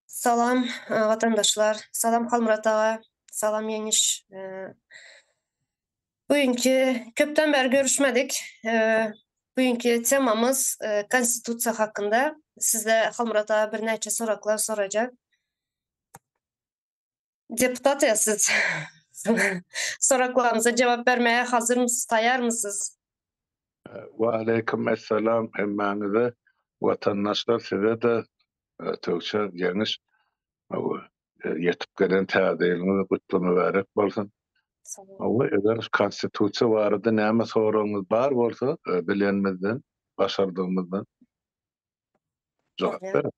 Salam watandaşlar salam Halmyrat aga salam Ýeňiş bu günki köpden bäri görüşmedik bu günki temamyz konstitusiýa hakynda sizde Halmyrat aga birnäçe soraklar sorajak. Deputat siz soraklaryňyza jogap bermäge hazyrmysyz, taýýarmysyz? Waleýkim essalam hemmäňize watandaşlar size-de Tögçe Ýeňiş ýetip gelen täze ýylyňyz gutly mübärek bolsun. Hawa eger konstitusiýa barada näme soragyňyz bar bolsa bilenimizden, başardygymyzdan jogap bereris.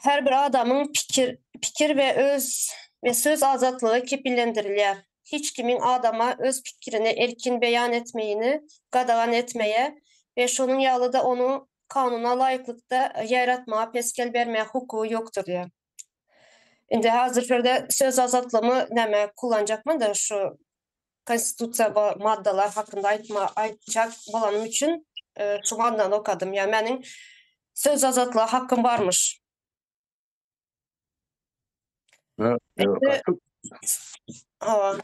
Her bir adamyň pikir, pikir we öz we söz azatlygy kepillendirilýär. Hiç kimiň adama öz pikirini erkin beýan etmegini gadagan etmäge we şonuň ýaly-da onuň kanuna laýyklykda ýaýratmaga pesgel bermäge hukugy ýokdur diýýär. Indi hazir şu ýerde söz azatlygymy näme kullanjakmanda şu Konstitusiýa maddalar hakynda aýtma aýtjak bolanym üçin şu maddany okadym. Ýa meniň söz azatlyga hakym barmyş. Hawa.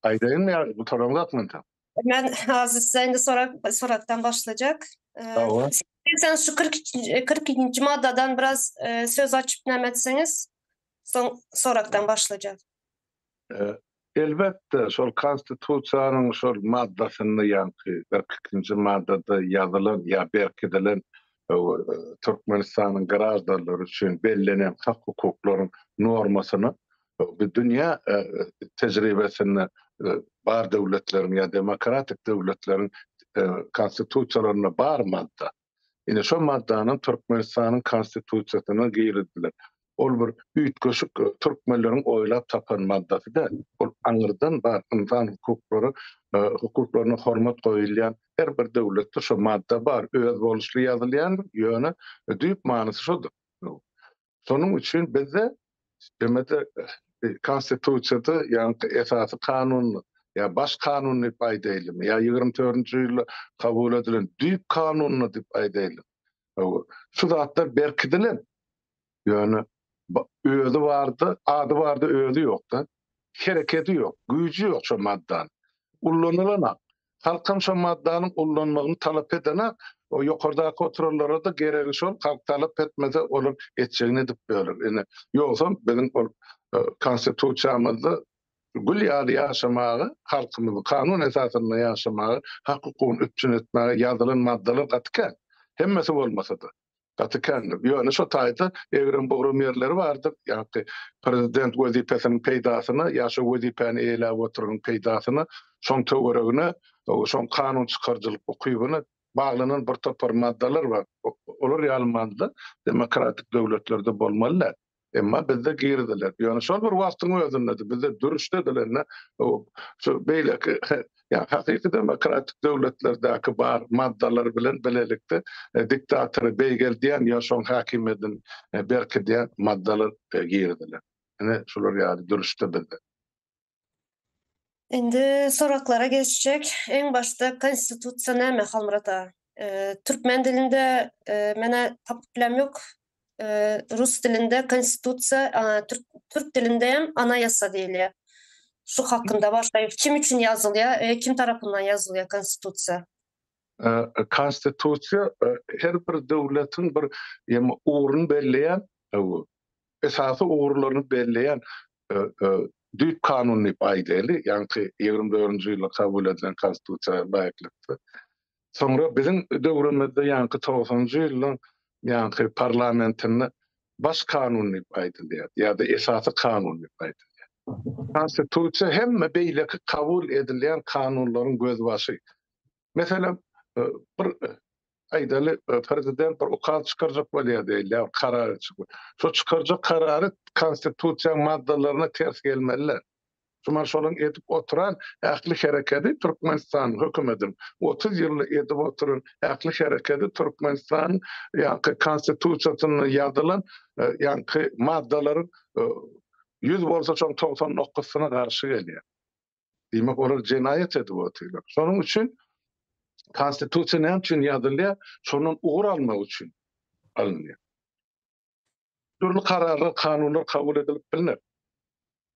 Aýdaýynmy ýa gutaraňmy hakmynda? Men azizde indi sorag soragdan başlajak. Hawa. Sen şu 42 42-nji maddadan biraz söz açyp näme etseňiz soň soragdan başlajak. Elbetde, şol Konstitusiýanyň şol maddasynda, ýaňky kyrk ikinji maddada ýazylan ýa berkidilen Türkmenistanyň graždanlary üçin bellenen hak-hukuklaryň normasyna bu dünýä tejribesinde bar döwletleriň ýa demokratik döwletleriň Konstitusiýalarynda bar madda. Ine, şol maddany Türkmenistanyň Konstitusiýasyna girizdiler. Ol bir üýtgeşik türkmenleriň oýlap tapan maddasy däl. Ol aňyrdan bar ynsan hukuklary, hukuklaryna hormat goýulýan her bir döwletde şu madda bar, özboluşly ýazylýandyr, ýöne düýp manysy şudur. Şonuň üçin bizde demek-de Konstitusiýada, ýagny Esasy Kanunda, ýa Baş Kanun diýip aýdaýlymy, ýa ýigrimi dördünji ýylda kabul edilen Düýp Kanunda diýip aýdaýlymy, hawa, şu zatlar berkidilen. Ýöne özi bardy, ady bardy, özi ýok-da. Hereketi ýok, güýji ýok şo maddanyň. Ullanylanam. Halkam şo maddanyň ullanmagyny talap edene, o ýokardaky oturanlara-da geregi şol, halk talap etmese, olar etjegini edip bilerler. Ine, ýogsam biziň ol Konstitusiýamyzda gül ýaly ýaşamaga, halkymyzy kanun esasynda ýaşamaga, hak-hukugyny üpjün etmäge ýazylan maddalar gaty kän, hemmesi bolmasa-da. Gaty kändir. Ýöne şo taýda egrem-bugram ýerleri bardyr. Ýa-ki prezident wezipesiniň peýdasyna, ýa şo wezipäni eýeläp oturanyň peýdasyna, şoň töweregine, şoň kanun çykaryjylyk ukybyna baglanan birtopar maddalar bar. Olar ýaly madda demokratik döwletlerde bolmaly däl. Emma bizde girdiler. Ýöne şol bir wagtyň özünde-de bizde dürüşde edilende şu beýleki ýa hakyky demokratik döwletlerdäki bar maddalar bilen bilelikde diktatory beýgeldýän ýa şoň häkimiýedini berkidýän maddalar girdiler. Ine şular ýaly dürüşde bizde. Indi soraklara geçjek. Eň başda konstitusiýa näme Halmyrat aga? Türkmen dilinde menä tapyp bilem ýok. Rus dilinde konstitusiýa, türk dilinde hem anayasa diýilýär. Şu hakynda başga kim üçin ýazylýar we kim tarapyndan ýazylýar konstitusiýa? Konstitusiýa her bir döwletiň bir ugruny belleýän esasy ugurlaryny belleýän düýp kanun diýip aýdaýly, ýaňky ýigrimi dördünji ýylda kabul edilen Konstitusiýa laýyklykda. Soňra biziň döwrümizde ýaňky togsanjy ýylyň ýaňky parlamentinde baş kanun diýip aýdylýar ýa-da esasy kanun diýip aýdylýar. Konstitusiýa hemme beýleki kabul edilýän kanunlaryň gözbaşy. Meselem, bir aýdaly, prezident bir ukaz çykarjak bolýar diýeli, ýa karar çykyp. Şo çykarjak karary Konstitusiýanyň maddalaryna ters gelmeliler. Şuman şonuň edip oturan ähli herekedi Türkmenistanyň hökümediň, otuz ýylda edip oturan ähli herekedi Türkmenistanyň ýaňky Konstitusiýasynda ýazylan ýaňky maddalaryň ýüz bolsa şoň togsan dokuzysyna garşy gelýär. Diýmek, olar jenaýat edip otyrlar. Şonuň üçin Konstitusiýa näme üçin ýazylýar? Şondan ugur almak üçin alynýar. Dürli kararlar, kanunlar kabul edilip bilner.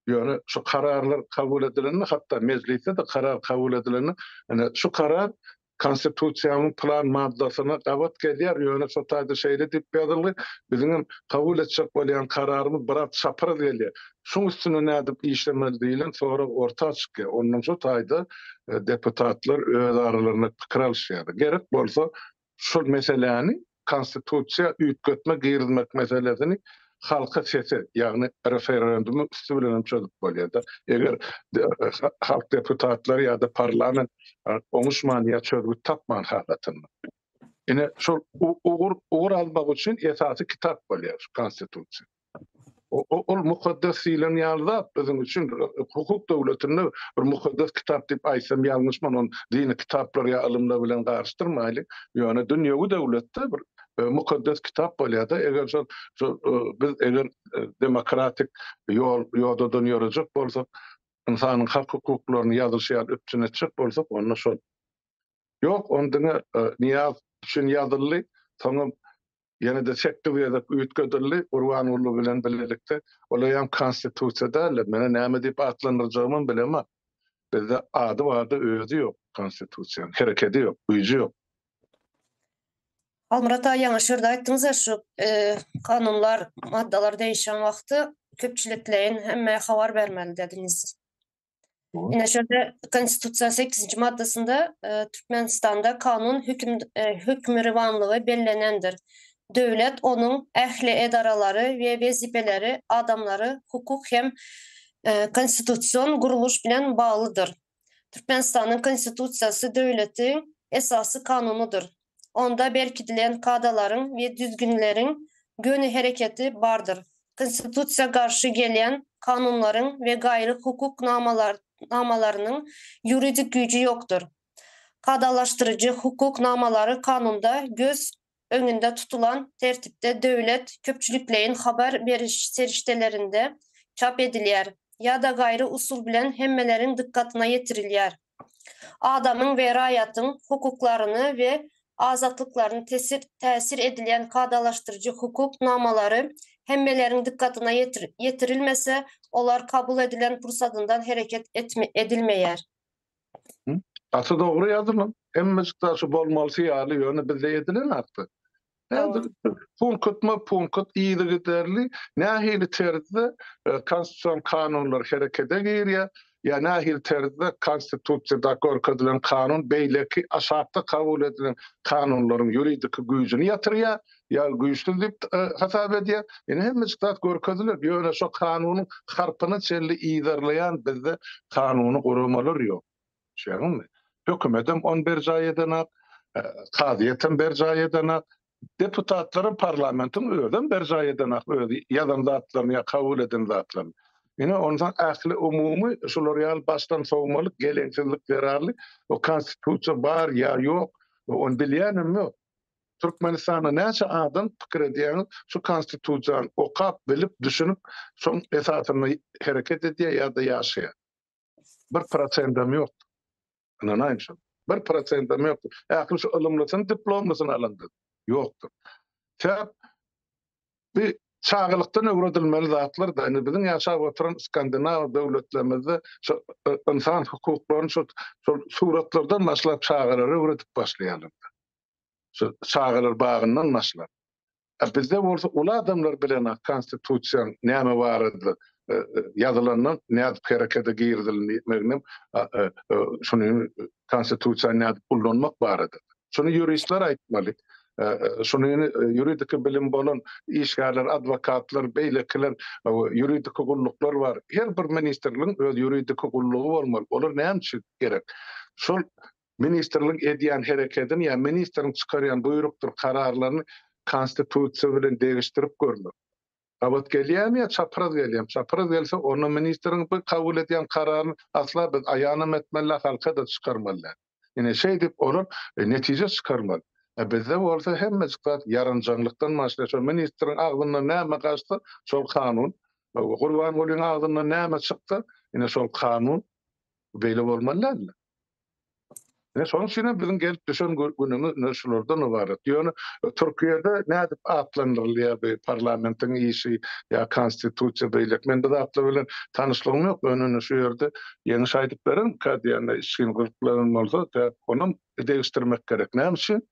Ýöne şu kararlar kabul edilende, hatda mejlisde-de karar kabul edilende, ine, şu karar Konstitusiýanyň pylan maddasyna gabat gelýär, ýöne şo taýda şeýle diýip ýazylgy, Biziňem kabul etjek bolýan kararymyz biraz çapraz gelýär. Şuň üstüne nädip işlemeli diýlen sorag orta çykýar. Ondan şo taýda deputatlar öz aralarynda pikir alyşýarlar. Gerek bolsa şol meseläni Konstitusiýa üýtgetme girizmek meselesini halka sese, ýagny referendumyň üsti bilen hem çözüp bolýar-da. Eger halk deputatlary ýa-da parlament oňuşman ýa çözgüt tapman halatynda. Ine, şol ugur almak üçin esasy kitap bolýar şu Konstitusiýa. Ol mukaddes diýlen ýaly zat biziň üçin hukuk döwletinde bir mukaddes kitap diýip aýtsam ýalňyşman, ony dini kitaplar ýa ylymlar bilen garyşdyrmaýlyň. Ýöne dünýewi döwletde bir mukaddes kitap bolýar-da, eger şol biz eger demokratik ýol ýodadan ýörejek bolsak, ynsanyň hak-hukuklaryny ýazyşy ýaly üpjün etjek bolsak, onda şol Ýok, ony diňe Nyýaz üçin ýazyldy. Soňam ýene-de sekkiz gezek üýtgedildi. Gurbanguly bilen bilelikde. Olaýam Konstitusiýa däl-de, meni näme diýip atlandyrjagymam bilemok. Bizde ady bar-da, özi ýok Konstitusiýanyň. Herekedi ýok, güýji ýok. Halmyrat aga, ýaňy şu ýerde aýtdyňyz-a, şu kanunlar, maddalar degişen wagty köpçülikleýin hemmäe habar bermeli dediňiz. Ine şonda Konstitusiýanyň 8-nji maddasynda e, Türkmenistanda kanun höküm e, hökmürowanlygy bellenendir. Döwlet, onuň ähli edaralary we wezipeleri adamlary hukuk hem e, konstitusion gurluş bilen baglydyr. Türkmenistanyň Konstitusiýasy döwletiň esasy kanunydyr. onda berkidilen kadalaryň we düzgünleriň göni hereketi bardyr. Konstitusiýa garşy gelýän kanunlaryň we gaýry hukuk namalarynyň ýuridik güýji ýokdur. Kadalaşdyryjy hukuk namalary kanunda göz öňünde tutulan tertipde döwlet köpçülikleýin habar beriş serişdelerinde çap edilýär ýa-da gaýry usul bilen hemmeleriň dykgatyna ýetirilýär. adamyň we raýatyň hukuklaryny we azatlyklaryny tesir täsir edilýän kadalaşdyryjy hukuk namalary hemmeleriň dykgatyna ýetirilmese, olar kabul edilen pursatyndan hereket edilmeýär. Gaty dogry ýazylan. Hemmejik daşy bolmalysy ýaly, ýöne bizde edilenakda. Häzir punkatma punkat yzygiderli nähili terzde konstitusion kanunlar herekede girýär, ýa nähili terzde konstitusiýada görkezilen kanun beýleki aşakda kabul edilen kanunlaryň ýuridiki güýjüni ýatyrýar, ýa güýçsüz diýip hasap edýär. Indi hemmejik zat görkeziler, ýöne şo kanunyň harpyna çenli yzarlaýan bizde kanuny guramalar ýok. Düşýäňizmi? Hökümetem ony berjaý edenak, kazyýetem berjaý edenak, deputatlaram parlamentiň özem berjaý edenak öz ýazan zatlaryny ýa kabul eden zatlaryny. Ine, onsoň ähli umumy şular ýaly başdan sowmalyk, geleňsizlik zerarly o Konstitusiýa bar ýa ýok, ony bilýänem ýok. Türkmenistanda näçe adam pikir edýäňiz, şu Konstitusiýany okap, bilip, düşünip, şoň esasynda hereket edýär ýa-da ýaşaýar? Bir prosendem ýokdy. Ynanaýyň şoňa. Bir prosendem ýokdy. Ähli şu ylymlysyny, diplomlysyny alandyr. Ýokdur. Sebäp bi çagalykdan öwredilmeli zatlar-da. Indi biziň ýaşap oturan skandinaw döwletlerimizde şu ynsan hukuklaryny şu suratlardan başlap çagalara öwredip başlaýarlar. Şu çagalar bagyndan başlap. A bizde bolsa uly adamlar bilenok konstitusiýaň näme barada ýazylanyny nädip herekete girizilmegini şuny konstitusiýa nädip ullanmak barada. Şuny ýuristler aýtmaly. Şuny ýuridiki bilim bolan işgärler, adwokatlar, beýlekiler, ýuridiki gulluklar bar. Her bir ministrligiň öz ýuridiki gullugy bolmaly. Olar näme üçin gerek? Şol Ministrligiň edýän herekedini ýa ministriň çykarýan buýrukdyr kararlaryny Konstitusiýa bilen degişdirip görmek. Gabat gelýärmi ýa çapraz gelýärmi? Çapraz gelse, onda ministriň bu kabul edýän kararyny asla biz aýanam etmelidäl, halka-da çykarmaly däl. Ine, şeýdip, olar netije çykarmaly. A bizde bolsa hemmejik zat ýaranjaňlykdan başlaýar. Şo ministriň agzyndan näme gaçsa, şol kanun. Gurbangulyň agzyndan näme çyksa, ine, şol kanun. Beýle bolmaly däldir. Ine şonuň üçin hem biziň gelip düşen günümiz ine şulardan ybarat. Ýöne Türkiýede nädip atlandyrylýar bu parlamentiň işi ýa konstitusiýa beýleki. Men bu zatlar bilen tanyşlygym ýok. Ýöne şu ýerde ýeňiş aýdyp bererin käte ýa-da içgin gyzyklananlar bolsa sebäp onam degişdirmek gerek. Näme üçin?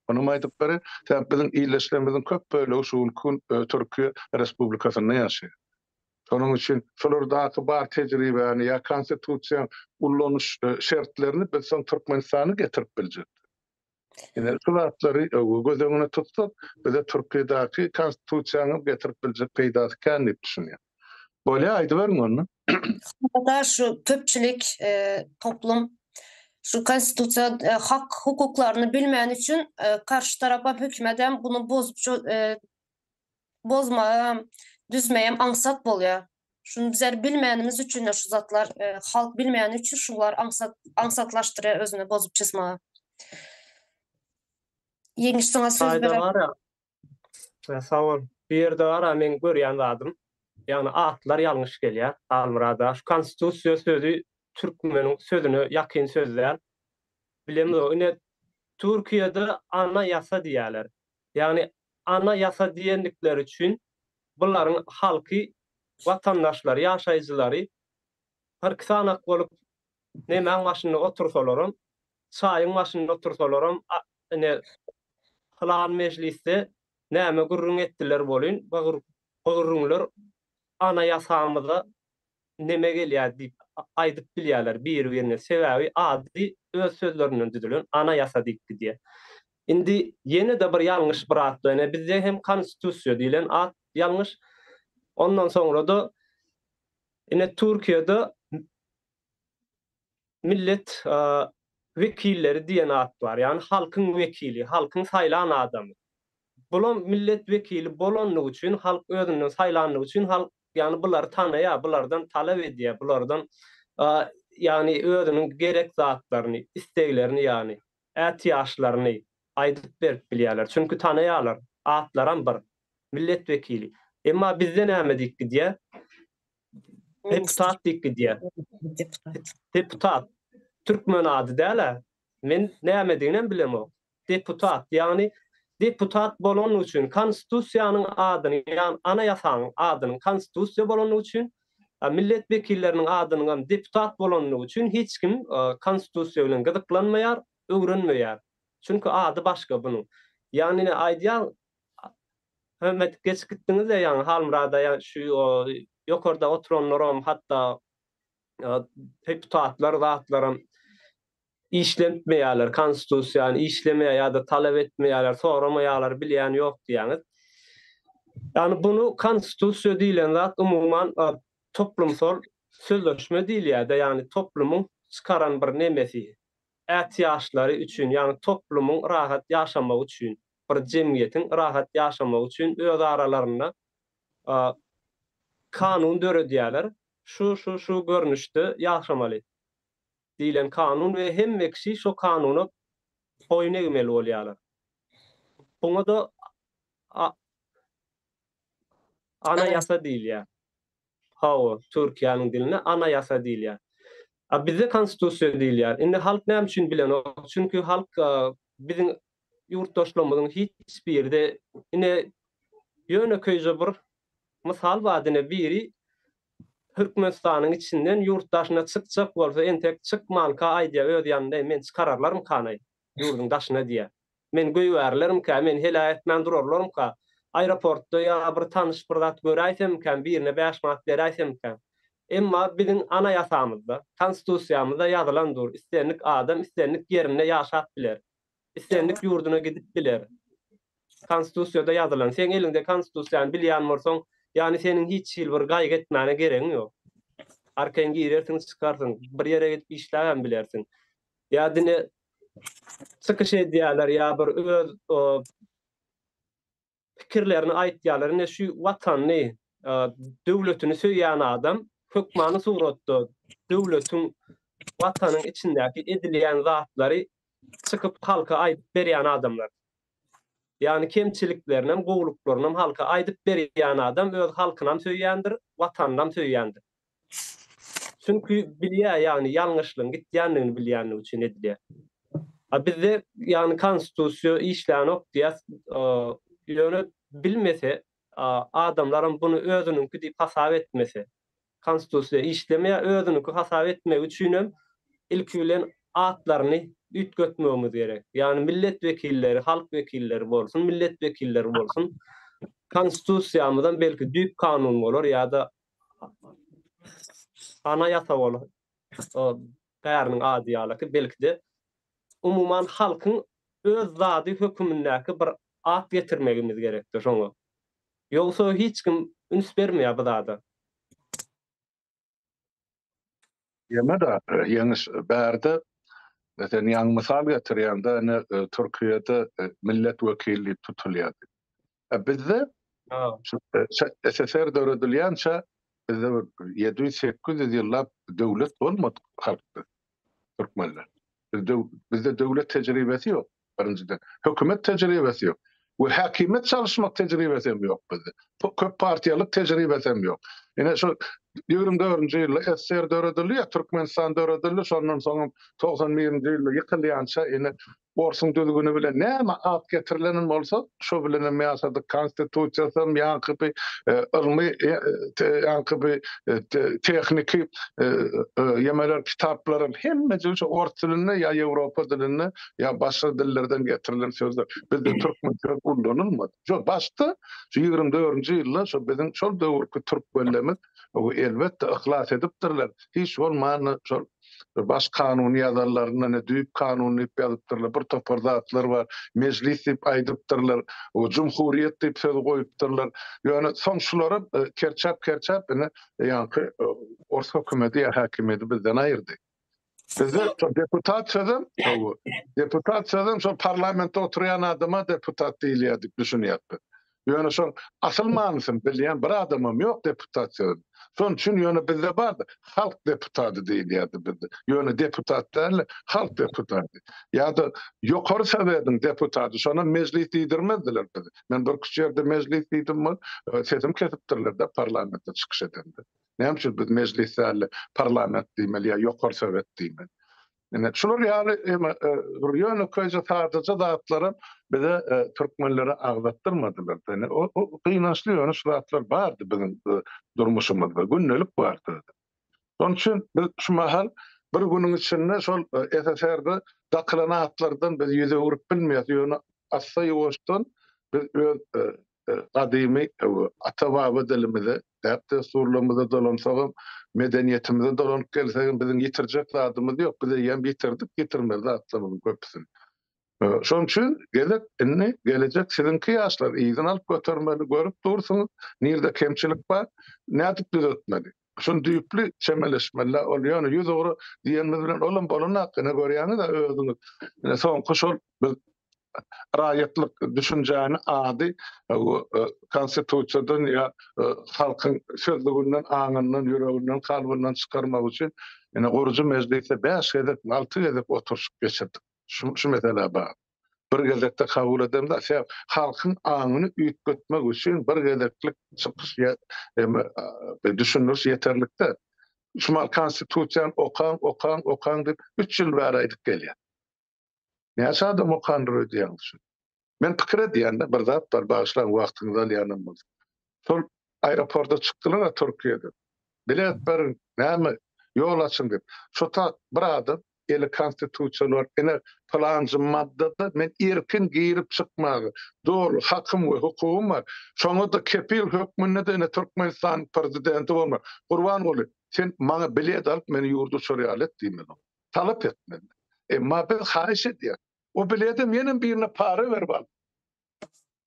Onam aýdyp bereýin. Sebäp biziň illeşigimiziň köp bölegi şu günki gün Türkiýe respublikasynda ýaşaýar. Şonuň üçin şolardaky bar tejribäni ýa konstitusiýaň ullanyş şertlerini biz soň Türkmenistana getirip biljek. Ine şu zatlary göz öňüne tutsak, bize Türkiýedäki konstitusiýany getirip biljek peýdasy kän diýip düşünýän. Bolýa, aýdyberiň onda. Hakyda şu köpçülik toplum şu konstitusiýa hak hukuklaryny bilmän üçin karşy tarapam hökümetem bunu bozup bozmagam, düzmegem aňsat bolýar. Şuny bizler bilmänimiz üçin-de şu zatlar, e, halk bilmäni üçin şular aňsat aňsatlaşdyrýar özüni bozup çyzmaga. Ýeňiş saňa söz Aýda berem. gara. E, Sag bol. Bu ýerde gara men görýän zadym. Ýagny atlar ýalňyş gelýär Halmyrada. Şu konstitusiýa sözi türkmeniň sözüne ýakyn söz däl. Bilemizok. Ine Türkiýede ana ýasa diýýärler. Ýagny Ana ýasa diýendikleri üçin bularyň halky watandaşlary ýaşaýjylary kyrk sanak bolup nemäň başynda otursalaram çaýyň başynda otursalaram ine pylan mejlisde näme gürrüň etdiler bolyn bu gürrüňler ana ýasamyza näme gelýär diýip aýdyp bilýärler biri birine sebäbi ady öz sözlerinden düzülen ana ýasa diýip gidýär. Indi ýene-de bir ýalňyş bir at bilen e bizde hem konstitusiýa diýlen at ýalňyş ondan soňra-da ine Türkiýede Millet wekilleri diýen at bar, ýagny halkyň wekili, halkyň saýlan adamy. Bulam millet wekili bolandygy üçin, halk özünden saýlandygy üçin halk ýagny bulary tanaýar, bulardan talap edýär, bulardan ýagny özüniň gerek zatlaryny, isteglerini ýagny ätiýaçlaryny aýdyp berip bilýärler. Çünki tanaýarlar, atlaram bir, millet wekili. Emma bizde näme diýip gidýär? Deputat diýip gidýär. Deputat. Türkmen ady däl-ä. Men nämediginem bilemok. Deputat, ýagny deputat bolany üçin Konstitusiýanyň adyny, ýagny Anaýasanyň adynyň Konstitusiýa bolany üçin, millet wekilleriniň adynyňam deputat bolany üçin hiç kim Konstitusiýa bilen gyzyklanmaýar, öwrenmeýär. Çünki ady başga bunuň. Ýagny ine aýdýan Höm edip geçip gitdiňizle ýaňy Halmyrada ýa şu ýokarda oturanlaram hatda deputatlar zatlaram işletmeýärler konstitusiýany işlemeýär ýa-da talap etmeýärler soramaýarlar bilýän ýok diýýäňiz. Ýagny bunu konstitusiýa diýlen zat umuman toplumsal sözleşme diýilýärde ýagny toplumyň çykaran bir nemesi ätiýaçlary üçin ýagny toplumyň rahat ýaşamagy üçin bir jemgyýetiň rahat ýaşamagy üçin öz aralarynda kanun döredýärler, şu, şu, şu görnüşde ýaşamaly diýlen kanun we hemme kişi şo kanuna boýun egmeli bolýarlar. Buňa-da Anayasa diýilýär. Hawa, Türkiýäniň dilinde Anayasa diýilýär. A bizde Konstitusiýa diýilýär. Indi halk näme üçin bilenok? Çünki halk biziň ýurtdaşlarymyzyň hiç biri-de ine ýönekeýje bir mysal bar ine biri Türkmenistanyň içinden ýurt daşyna çykjak bolsa entek çykmanka aýdýar öz ýanynda men çykararlarmykanaý? Ýurduň daşyna diýýär. Men goýberilerimkä, meni heläk etmän durarlarmyka? Aeroportda ýa bir tanyş bir zat göräýsemmikäm, birine bäş manat beräýsemmikäm? Emma biziň anaýasamyzda, Konstitusiýamyzda ýazylan dur, islendik adam islendik ýerinde ýaşap biler. Islendik ýurduna gidip biler. Konstitusiýada ýazylan. Seň eliňde Konstitusiýany bilýän bolsaň, ýany seniň hiç hili bir gaýgy etmäne geregiň ýok. Arkaýyn girersiň, çykarsyň. Bir ýere gidip işläbem bilersiň. Ýa diňe çykyş edýärler, ýa bir öz pikirlerini aýtýarlar. Ine şu watanyny, döwletini söýýän adam hökmany suratda döwletiň, watanyň içindäki edilýän zatlary çykyp halka aýdyp berýän adamlar. Ýagny kemçiliklerinem, gowulyklarynam halka aýdyp berýän adam öz halkynam söýýändir, watanynam söýýändir. Çünki bilýär, ýagny ýalňyşlygyň gitýändigini bilýänligi üçin edilýär. A bizde, ýagny konstitusiýa işlänok diýýär, ýöne bilmese, adamlaram buny özüniňki diýip hasap etmese, konstitusiýa işlemeýär, özüniňki hasap etmegi üçinem ilki bilen atlaryny üýtgetmegimiz gerek. Ýagny millet wekilleri halk wekilleri bolsun, millet wekilleri bolsun, konstitusiýamyzam belki düýp kanun bolar ýa-da Ana ýasa bolan o bäriniň ady ýalyky, belki-de, umuman, halkyň öz zady hökümindäki bir at getirmegimiz gerekdir şoňa. Ýogsa hiç kim üns bermeýär bu zada. Ýene de ýeňiş bärde sen ýaňy mysal getirýäňde ine Türkiýede millet wekili diýip tutulýardy. E bizde SSR döredilýänçä bizde bir ýedi ýüz sekiz ýüz ýyllap döwlet bolmadyk halkdyr. türkmenler. Bizde bizde döwlet tejribesi ýok birinjiden. Hökümet tejribesi ýok. We häkimiýet çalyşmak tejribesi hem ýok bizde. Bu köp partiýalyk tejribesi hem ýok. Ine şu 24-nji ýylda SSR döredildi ýa Türkmenistan döredildi, şondan soňam 91-nji ýylda ýykylýança ine Orsuň düzgüni bilen näme at getirilenem bolsa, şo bilenem ýaşadyk. Konstitusiýasam, ýaňky bi ylmy, ýaňky bi tehniki ýemeler, kitaplaram hemmeje şo ors dilinde ýa ýewropa dilinde, ýa başga dillerden getirilen sözler. Bizde türkmen söz ullanylmady. Şo başda, şu ýigrimi dördünji ýylda şo biziň şol döwürki türkmenlerimiz elbetde yhlas edipdirler. Hiç bolmanda şol bir baş kanuny ýazarlarynda ne düýp kanun diýip ýazypdyrlar, bir topar zatlar bar, mejlis diýip aýdypdyrlar, o jumhuriýet diýip sözi goýupdyrlar. Ýöne soň şularam kerçäp-kerçäp ine ýaňky ors hökümeti ýa häkimiýeti bizden aýyrdy. Bizde deputat sözem, deputat sözem şol parlamentde oturýan adama deputat diýilýär diýip düşünýäris biz. Ýöne şoň asyl manysyny bilýän bir adamam ýok deputat sözüniň. Şoň üçin ýöne bizde bardy, halk deputaty diýilýärdi bizde. Ýöne deputat däldi, halk deputaty. Ýa-da Ýokary Sowetiň deputaty, şonam mejlis diýdirmezdiler bize. Men birküç ýerde mejlis diýdim bol, sesimi kesipdirler-de parlamentde çykyş edemde. Näme üçin biz mejlis däl-de parlament diýmeli ýa Ýokary Sowet diýmeli? Ine, şular ýaly eme bir ýönekeýje sadyja zatlaram bize türkmenlere agzatdyrmadylar. Ine, o gynançly ýöne şu zatlar bardy biziň durmuşymyzda, gündelik bardy. Şonuň üçin biz şu mahal bir günüň içinde şol SSR-de dakylan atlardan biz ýüz öwrüp bilmeýäs, ýöne assa-ýuwaşdan biz öz gadymy ata-baba dilimize, däp-dessurlarymyza dolansagam, medeniýetimize dolanyp gelsegem, biziň ýitirjek zadymyz ýok. Biz eýýäm ýitirdik ýitirmeli zatlarymyzyň köpüsini. Şonuň üçin gezek indi gelejek siziňki ýaşlar yzyna alyp götermeli. Görüp dursuňyz, nirede kemçilik bar, nädip düzetmeli? Şuny düýpli çemeleşmeli-dä, ol ýöne ýüz ugra diýenimiz bilen olam bolanok, ine görýäňiz-ä özüňiz, ine soňky şol biz raýatlyk düşünjäni ady Konstitusiýadan ýa halkyň sözlüginden, aňyndan, ýüreginden, kalbyndan çykarmak üçin ine gurujy mejlisde bäş gezek, alty gezek oturyşyk geçirdik şu meselä bagly. bir gezekde kabul edemda sebäp halkyň aňyny üýtgetmek üçin bir gezeklik çykyş ýa eme düşündiriş ýeterlikde şu mal konstitusiýany okaň okaň okaň diýip üç ýyl bäri aýdyp gelýär näçe adam okandyr öýdýäňiz şu men pikir edýän-de bir zat bar bagyşlaň wagtyňyzy alýanam bolsa Şol aeroporda çykdylar-a Türkiýeden. Bilet beriň, näme, ýol açyň diýip. Şo tat bir adam eli konstitusiýaly bolup, ine, pylanjy maddada men erkin girip-çykmaga doly hakym we hukugym bar. Şoňa-da kepil hökmünde-de ine Türkmenistanyň prezidenti bolmaly. Gurbanguly, sen maňa bilet alyp, meni ýurda uçar ýaly et diý meni. Talap et menden. Emma biz haýyş edýäris. O biledem ýenem birine para berip aldyk.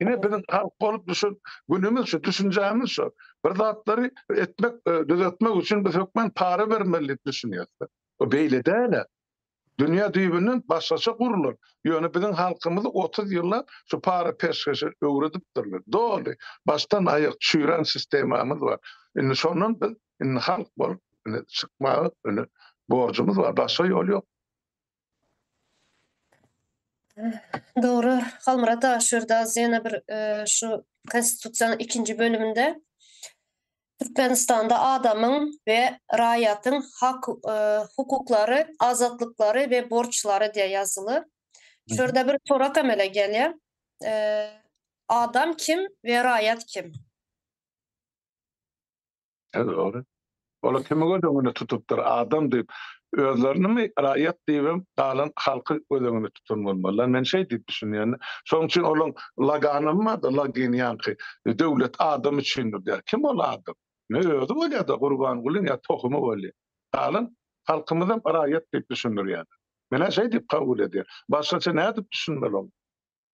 Ine biziň halk bolup düşen günümiz şu, düşünjämiz şu. Bir zatlary etmek, e, düzetmek üçin biz hökman para bermeli diýip düşünýäris. Bu beýle däl. Dünýä düýbünden başgaça gurlan. Ýöne biziň halkymyzy 30 ýyllap şu para peşgeşe öwredipdirler. Doly, başdan aýak çüýrän sistemamyz bar. Indi şondan biz indi halk bolup indi çykmaga indi borjumyz bar. Başga ýol ýok. Dogry, Halmyrat aga, şu ýerde az ýene bir şu Konstitusiýanyň ikinji bölüminde Türkmenistanda adamyň we raýatyň hak hukuklary, azatlyklary we borçlary diýe ýazyly. Şu ýerde bir sorak emele gelýä, Adam kim we raýat kim? He dogry. Olar kimi göz öňünde tutupdyr adam diýip özlerinimi raýat diýibem galan halky göz öňünde tutan bolmalylar. Men şeý diýip düşünýän. Şoň üçin olaň laganymy barda lagin ýanky döwlet adam üçindir diýär. Kim ol adam? Ne özi bolýada Gurbangulyň ýa tohumy bolýa. Galan halkymyzam raýat diýip düşündirýäler. Menä şeý diýip kabul edýän. Başgaça nädip düşünmeli oňa?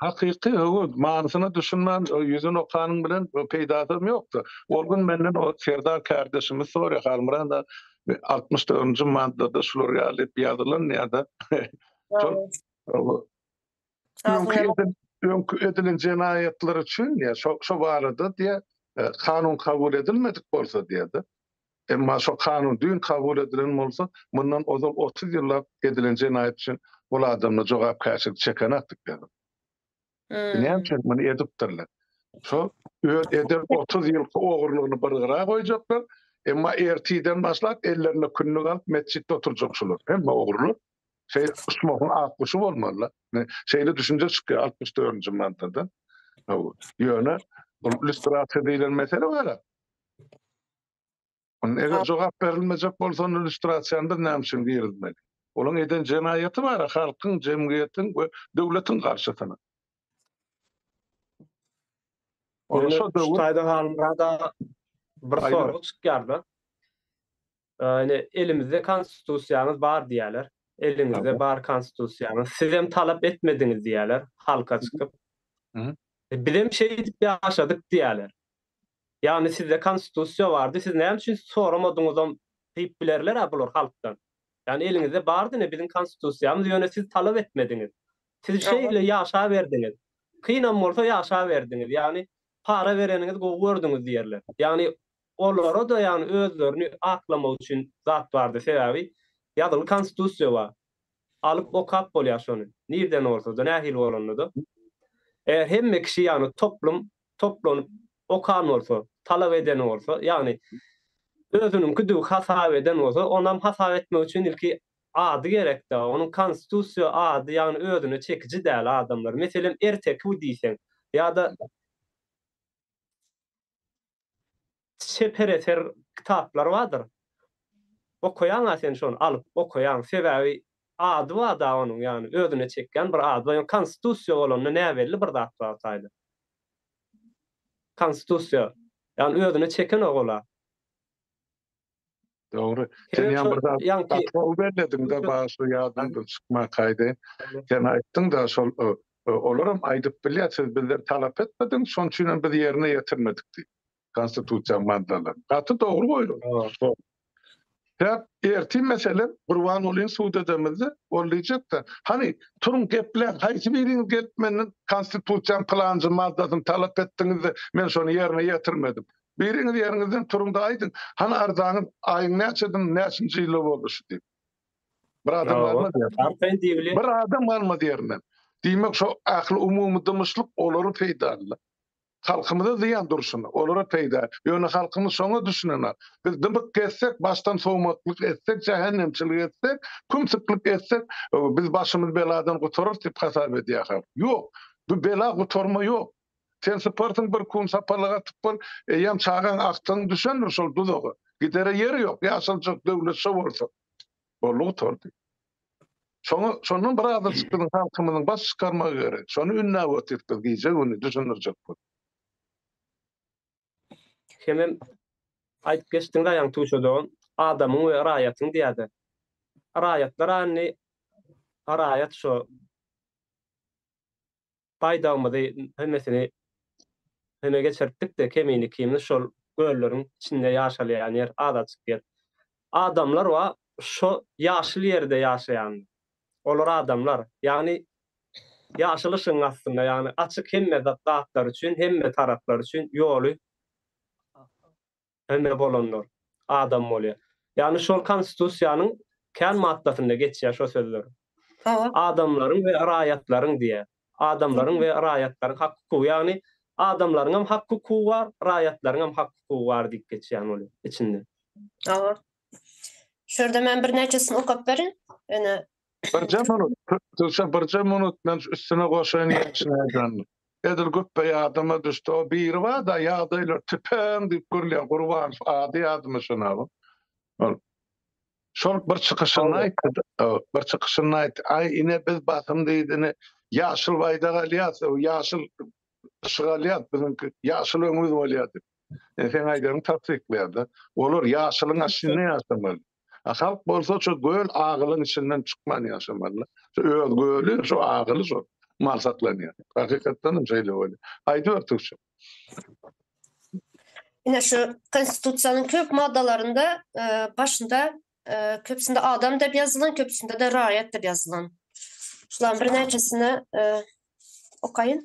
Hakyky höwes, manysyna düşünmän ýüzüni okanyň bilen peýdasam ýokdur. Ol gün menden o Serdar kärdeşimiz sorýar, Halmyrat aga, altmyş dördünji maddada şular ýaly ýazylan ýa-da şol öňki edilen jenaýatlar üçin, ýa şo barada diýýär, kanun kabul edilmedik bolsa diýýär-de. Emma şo kanun düýn kabul edilen bolsa, mundan ozal otuz ýyllap edilen jenaýat üçin ol adamlar jogapkärçilik çekenakdyk ýaly. Näme üçin muny edipdirler? Şo öz eden otuz ýylky ogurlygyny bir gyra goýjaklar, emma ertirden başlap ellerinde kündük alyp metjitde oturjak şular, hemme ogrular. Şeý uçmagyň ak guşy bolmaly-la. Şeýle düşünje çykýar altmyş dördünji maddadan. Ýöne bu lýustrasiýa diýlen mesele wara. Onda eger jogap berilmejek bolsa onda illýustrasiýany biz näme üçin girizmeli? Olaň eden jenaýaty bar-a halkyň, jemgyýetiň we döwletiň garşysyna. Ol şo döwür Şutaýda Halmyrada bir sorag çykýar-da. Ýani elimizde konstitusiýamyz bar diýýärler. Eliňizde bar konstitusiýaňyz. Sizem talap etmediňiz diýýärler halka çykyp. Bizem şeýdip ýaşadyk diýýärler. Ýagny sizde konstitusiýa bardy, siz näme üçin soramadyňyzam diýip bilerler-ä bular halkdan. Ýagny eliňizde bardy ine biziň konstitusiýamyz, ýöne siz talap etmediňiz. Siz şeýle ýaşaberdiňiz. Kynam bolsa ýaşaberdiňiz. Ýagny para bereniňizi gowy gördüňiz diýerler. Ýagny olara-da ýagny özlerini aklamak üçin zat bardy. Sebäbi ýazyly konstitusiýa bar. Alyp okap bolýar şony. Nirden bolsa-da, nähili bolanda-da. Eger hemme kişi ýagny toplum toplanyp okan bolsa, talap eden bolsa, ýagny özüniňkidigi hasap eden bolsa, onam hasap etmek üçin ilki ady gerekdä, onuň konstitusiýa ady ýagny özüne çekiji däl adamlar, meselem Ertekiw diýseň ýa-da. çeper eser kitaplar bardyr. Okaýaň-a sen şony, alyp okaýaň. Sebäbi ady bar-da onuň, ýagny özüne çekýän bir ady bar. Ýöne Konstitusiýa bolanda näbelli bir zat bar taýda. Konstitusiýa. Ýagny özüne çekenok ol-a. Dogry. Sen ýa bir zat ýa-da bellediň-de başly ýadymdan çykmakaýdy. Sen aýtdyň-da şol olaram aýdyp bilýär siz bizden talap etmediňiz şonuň üçin hem biz ýerine ýetirmedik diýip. Konstitusiýa maddalaryny. Gaty dogry goýulgy. Sebäp ertir meselem Gurbangulyny sud edemizde ol diýjek-de hany turuň gepläň haýsy biriňiz gelip menden konstitusiýanyň pylanjy maddasyny talap etdiňizde men şony ýerine ýetirmedim. Biriňiz ýeriňizden turuň-da aýdyň, hany arzaňyz, aýyň näçedin, näçinji ýylda boldy şu diýip. Bir adam galmaz ýerinden. Arkaýyn diýibili. Bir adam galmaz ýerinden. Diýmek, şo ähli umumy dymyşlyk olara peýdaly-da. Halkymyza zyýan durşuna, olara peýda. Ýöne halkymyz şoňa düşünenok. Biz dymyk gezsek, başdan sowmaklyk etsek, jähennemçilik etsek, kümsüklik etsek, biz başymyz beladan gutararys diýip hasap edýär halk. Ýok, bu bela gutarma ýok. Sen syparsyň bir kun sapalyk atyp bol, eýýäm çagaň agtygyň düşendir şol duzaga. Gidere ýeri ýok, ýaşaljak döwlet şo bolsa. Boldy gutardy. Şoňa şondan bir azajyk biziň halkymyzyň baş çykarmagy gerek. Şony ündäp otyryk biz gije-gündiz düşündirjek bolup. Hemem aýdyp geçdiň Raýan Tuşa dogan, adamyň we raýatyň diýýä-de. Raýatlar andi, raýat şo. baýdagymyzy hemmesini hüme geçirtdik-de, kemini-kimini şol gölleriň içinde ýaşalýan ýer, azajyk ýer. Adamlar wa şo ýaşyl ýerde ýaşaýan. Olar adamlar. Ýagny, ýaşyl yşygyň astynda, ýagny, açyk hemme zatlar üçin, hemme taraplar üçin ýoly Ene bolanlar adam bolýar. Ýagny şol konstitusiýanyň kän maddasynda geçýär şo sözler. Adamlaryň we raýatlaryň diýýär. Adamlaryň we raýatlaryň hak hukugy ýagny adamlaryň hem hak hukugy bar, raýatlaryň hem hak hukugy bar diýip geçýän ol içinde. Şu ýerde men birnäçesini okap berin. Ene Birje minut, Duşa birje minut men üstüne goşaýyn ýetişen eden. Edil güpbe ýadyma düşdi, o biri barda ýagdaýlar tüpeň diýip gürleýän Gurbanow ady ýadyma şonam. Ol şol bir çykyşyny aýtdy, bir çykyşyny aýtdy. Aý ine biz basym diýdini ýaşyl baýdak alýas, ýaşyl yşyk alýas biziňki ýaşyl öňümiz bolýa diýip. Sen aýdaryň tassyklaýarda. Olar ýaşylyň aşynda ýaşamaly. Halk bolsa şu göl agylyň içinden çykman ýaşamaly. Şu öz göli, şu agyly şu mal saklanýar. Hakykatdan hem şeýle bolýar. Aýdyber Tüwçe. Ine şu konstitusiýanyň köp maddalarynda e, başynda e, köpüsinde adam diýip ýazylan, köpüsinde-de raýat diýip ýazylan. Şularyň birnäçesini e, okaýyn.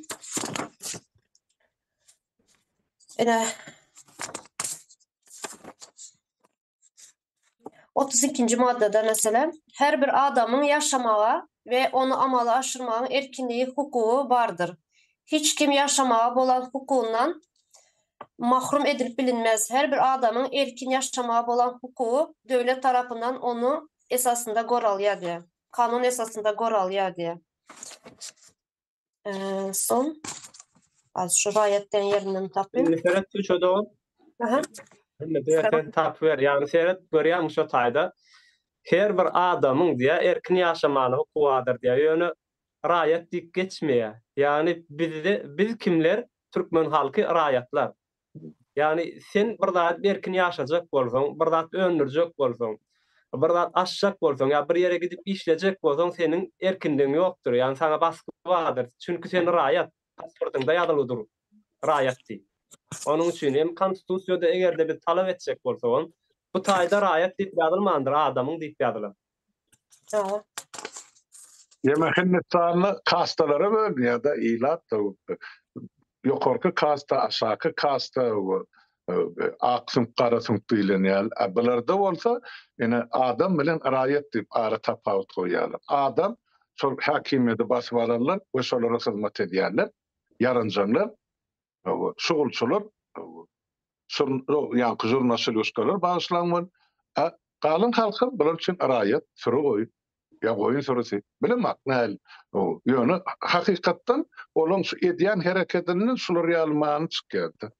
Ine otuz ikinji maddada meselem, her bir adamyň ýaşamaga we ony amala aşyrmagyň erkinligi hukugy bardyr. Hiç kim ýaşamaga bolan hukugyndan mahrum edilip bilinmez. Her bir adamyň erkin ýaşamaga bolan hukugy döwlet tarapyndan onuň esasynda goralýar diýýär. Kanun esasynda goralýar diýýär. Ee, son. Az şu rayetden yerinden tapayım. Indi seret şu çoda ol. Aha. Indi bir sen tap ver. Yani seret görýäň şu taýda. Her bir adamyň diýä erkin ýaşamagyna hukugy bardyr diýä. Ýöne raýat diýip geçmeýär. Yani bizde biz kimler? Türkmen halky raýatlar. Ýagny, sen bir zady erkin ýaşajak bolsaň, bir zat öndürjek bolsaň, bir zat açjak bolsaň ýa bir ýere gidip işlejek bolsaň, seniň erkinligiň ýokdur. Ýagny, saňa basgy bardyr. Çünki sen raýat, pasportyňda ýazyly dur, raýat diýip. Onuň üçin hem Konstitusiýada eger-de biz talap etjek bolsagam, bu taýda raýat diýip ýazylmandyr, adamyň diýip ýazylar. Sag bol. Ýeme Hindistanly kastalara bölünýär da ilat da ýokarky kasta aşaky kasta ak süňk gara süňk diýlenýär a bularda bolsa ine adam bilen raýat diýip ara tapawut goýýarlar adam şol häkimiýeti basyp alanlar we şolara hyzmat edýärler ýaranjaňlar şugulçylar, ýaňky žurnalşiluşkalar bagyşlaň bol, a galan halkam bular üçin raýat, süri goýun, ýa goýun sürüsi, bilemok näl, ýöne hakykatdan olaň şu edýän hereketinden şular ýaly many çykýar-da.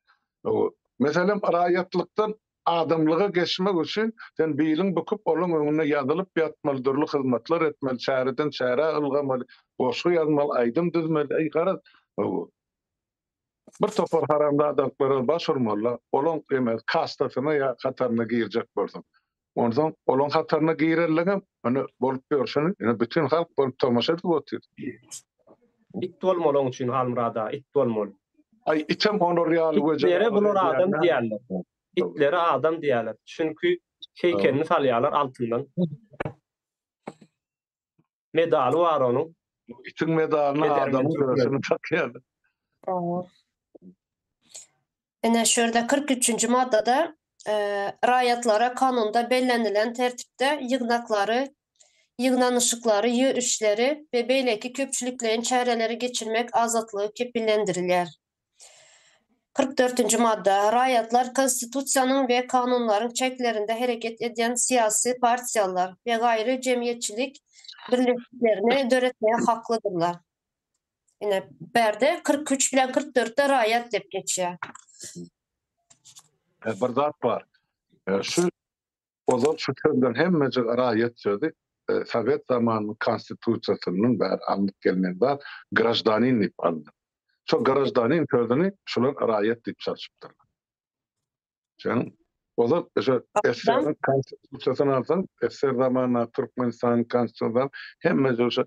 Meselem, raýatlykdan adamlyga geçmek üçin sen biliň bukup olaň öňünde ýazylyp ýatmaly, dürli hyzmatlar etmeli, çäreden çärä ylgamaly, goşgy ýazmaly, aýdym düzmeli, garaz, Bir topar haramzadalyklara baş urmalylar, olaň emel kastasyna ýa hataryna girjek bolsaň. Onsoň olaň hataryna girerligiňem ine bolup ýörşüni ine bütin halk bolup tomaşa edip otyr. It bolmaly oň üçin Halmyrada, it bolmaly. Aý item olar ýaly we janawer edýärler. Itlere bular adam diýärler. Itlere adam diýärler. Çünki heýkelini salýarlar altyndan. medaly bar onuň. Itiň medalyna Edermen adamyň türkmen. görsüni takýarlar. Oňuz. Ine şu ýerde kyrk üçünji maddada e, raýatlara kanunda bellenilen tertipde ýygnaklary, ýygnanyşyklary, ýörişleri we beýleki köpçülikleýin çäreleri geçirmek azatlygy kepillendirilýär. Kyrk dörtünji madda. Raýatlar Konstitusiýanyň we kanunlaryň çäklerinde hereket edýän syýasy partiýalar we gaýry jemgyýetçilik birleşiklerini döretmäge haklydyrlar. Ine, bärde kyrk üç bilen kyrk dörtde raýat diýip geçýär. Bir zat bar. Şu Ozal şu sözler hemmejig raýat sözi, sowet zamanynyň konstitusiýasyndan bäri alnyp gelnen zat, graždanin diýip alnyp. Şo graždanin sözüni şular raýat diýip çalşypdyrlar. Şoň Ozal şo SSR-iň konstitusiýasyny alsaň, SSR zamanyndaky Türkmenistanyň konstitusiýasynda hemmejig şo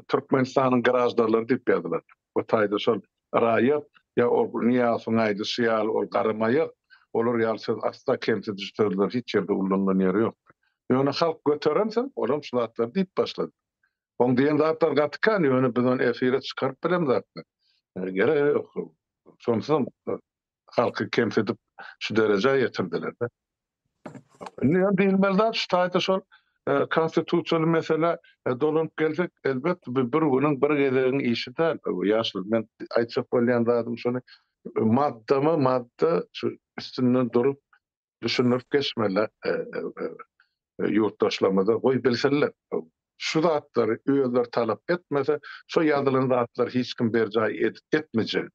Türkmenistanyň graždarlary diýip ýazylardy. Bu taýda şol raýat, ýa ol Nyýazowyň aýdyşy ýaly, ol garamaýak, olar ýaly söz asla kemsidiji sözler hiç ýerde ullanylan ýeri ýokdy. Ýöne halk göteren soň, olam şu zatlary diýip başlady. Oň diýen zatlary gaty kän, ýöne biz ony efire çykaryp bilemzakmy? Gerek ýok. Şonsuzam halky kemsidip şu derejä ýetirdiler-de. Indi ýa diýilmeli zat şu taýda şol konstitusiýaly meselä dolanyp gelsek, elbetde bu bir günüň, bir gezegiň işi däl. Ýaşuly, men aýtjak bolýan zadym şony, maddama-madda şu üstünden durup, düşündirip geçmeli ýurtdaşlarymyza, goý bilsinler. Şu zatlary özleri talap etmese, şo ýazylan zatlary hiç kim berjaý edip etmejek.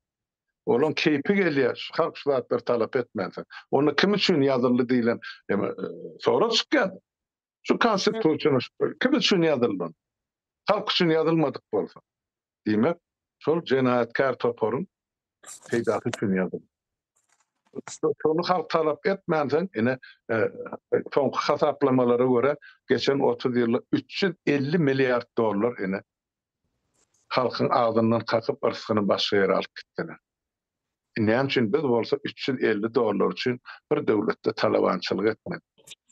Olaň keýpi gelýär, şu halk şu zatlary talap etmänsoň. Onda kim üçin ýazyldy diýlen sorag çykýar. Şu Konstitusiýa üçin urşup dur. Kim üçin ýazyldy? Halk üçin ýazylmadyk bolsa, diýmek, şol jenaýatkär toparyň peýdasy üçin ýazyldy. Şony halk talap etmänsoň, ine, soňky hasaplamalara görä, geçen otuz ýylda üç ýüz elli milliard dollar, ine, halkyň agzyndan kakyp, yrsgyny başga ýere alyp gitdiler. Näme üçin biz bolsa üç ýüz elli dollar üçin bir döwletde talabançylyk etmeli?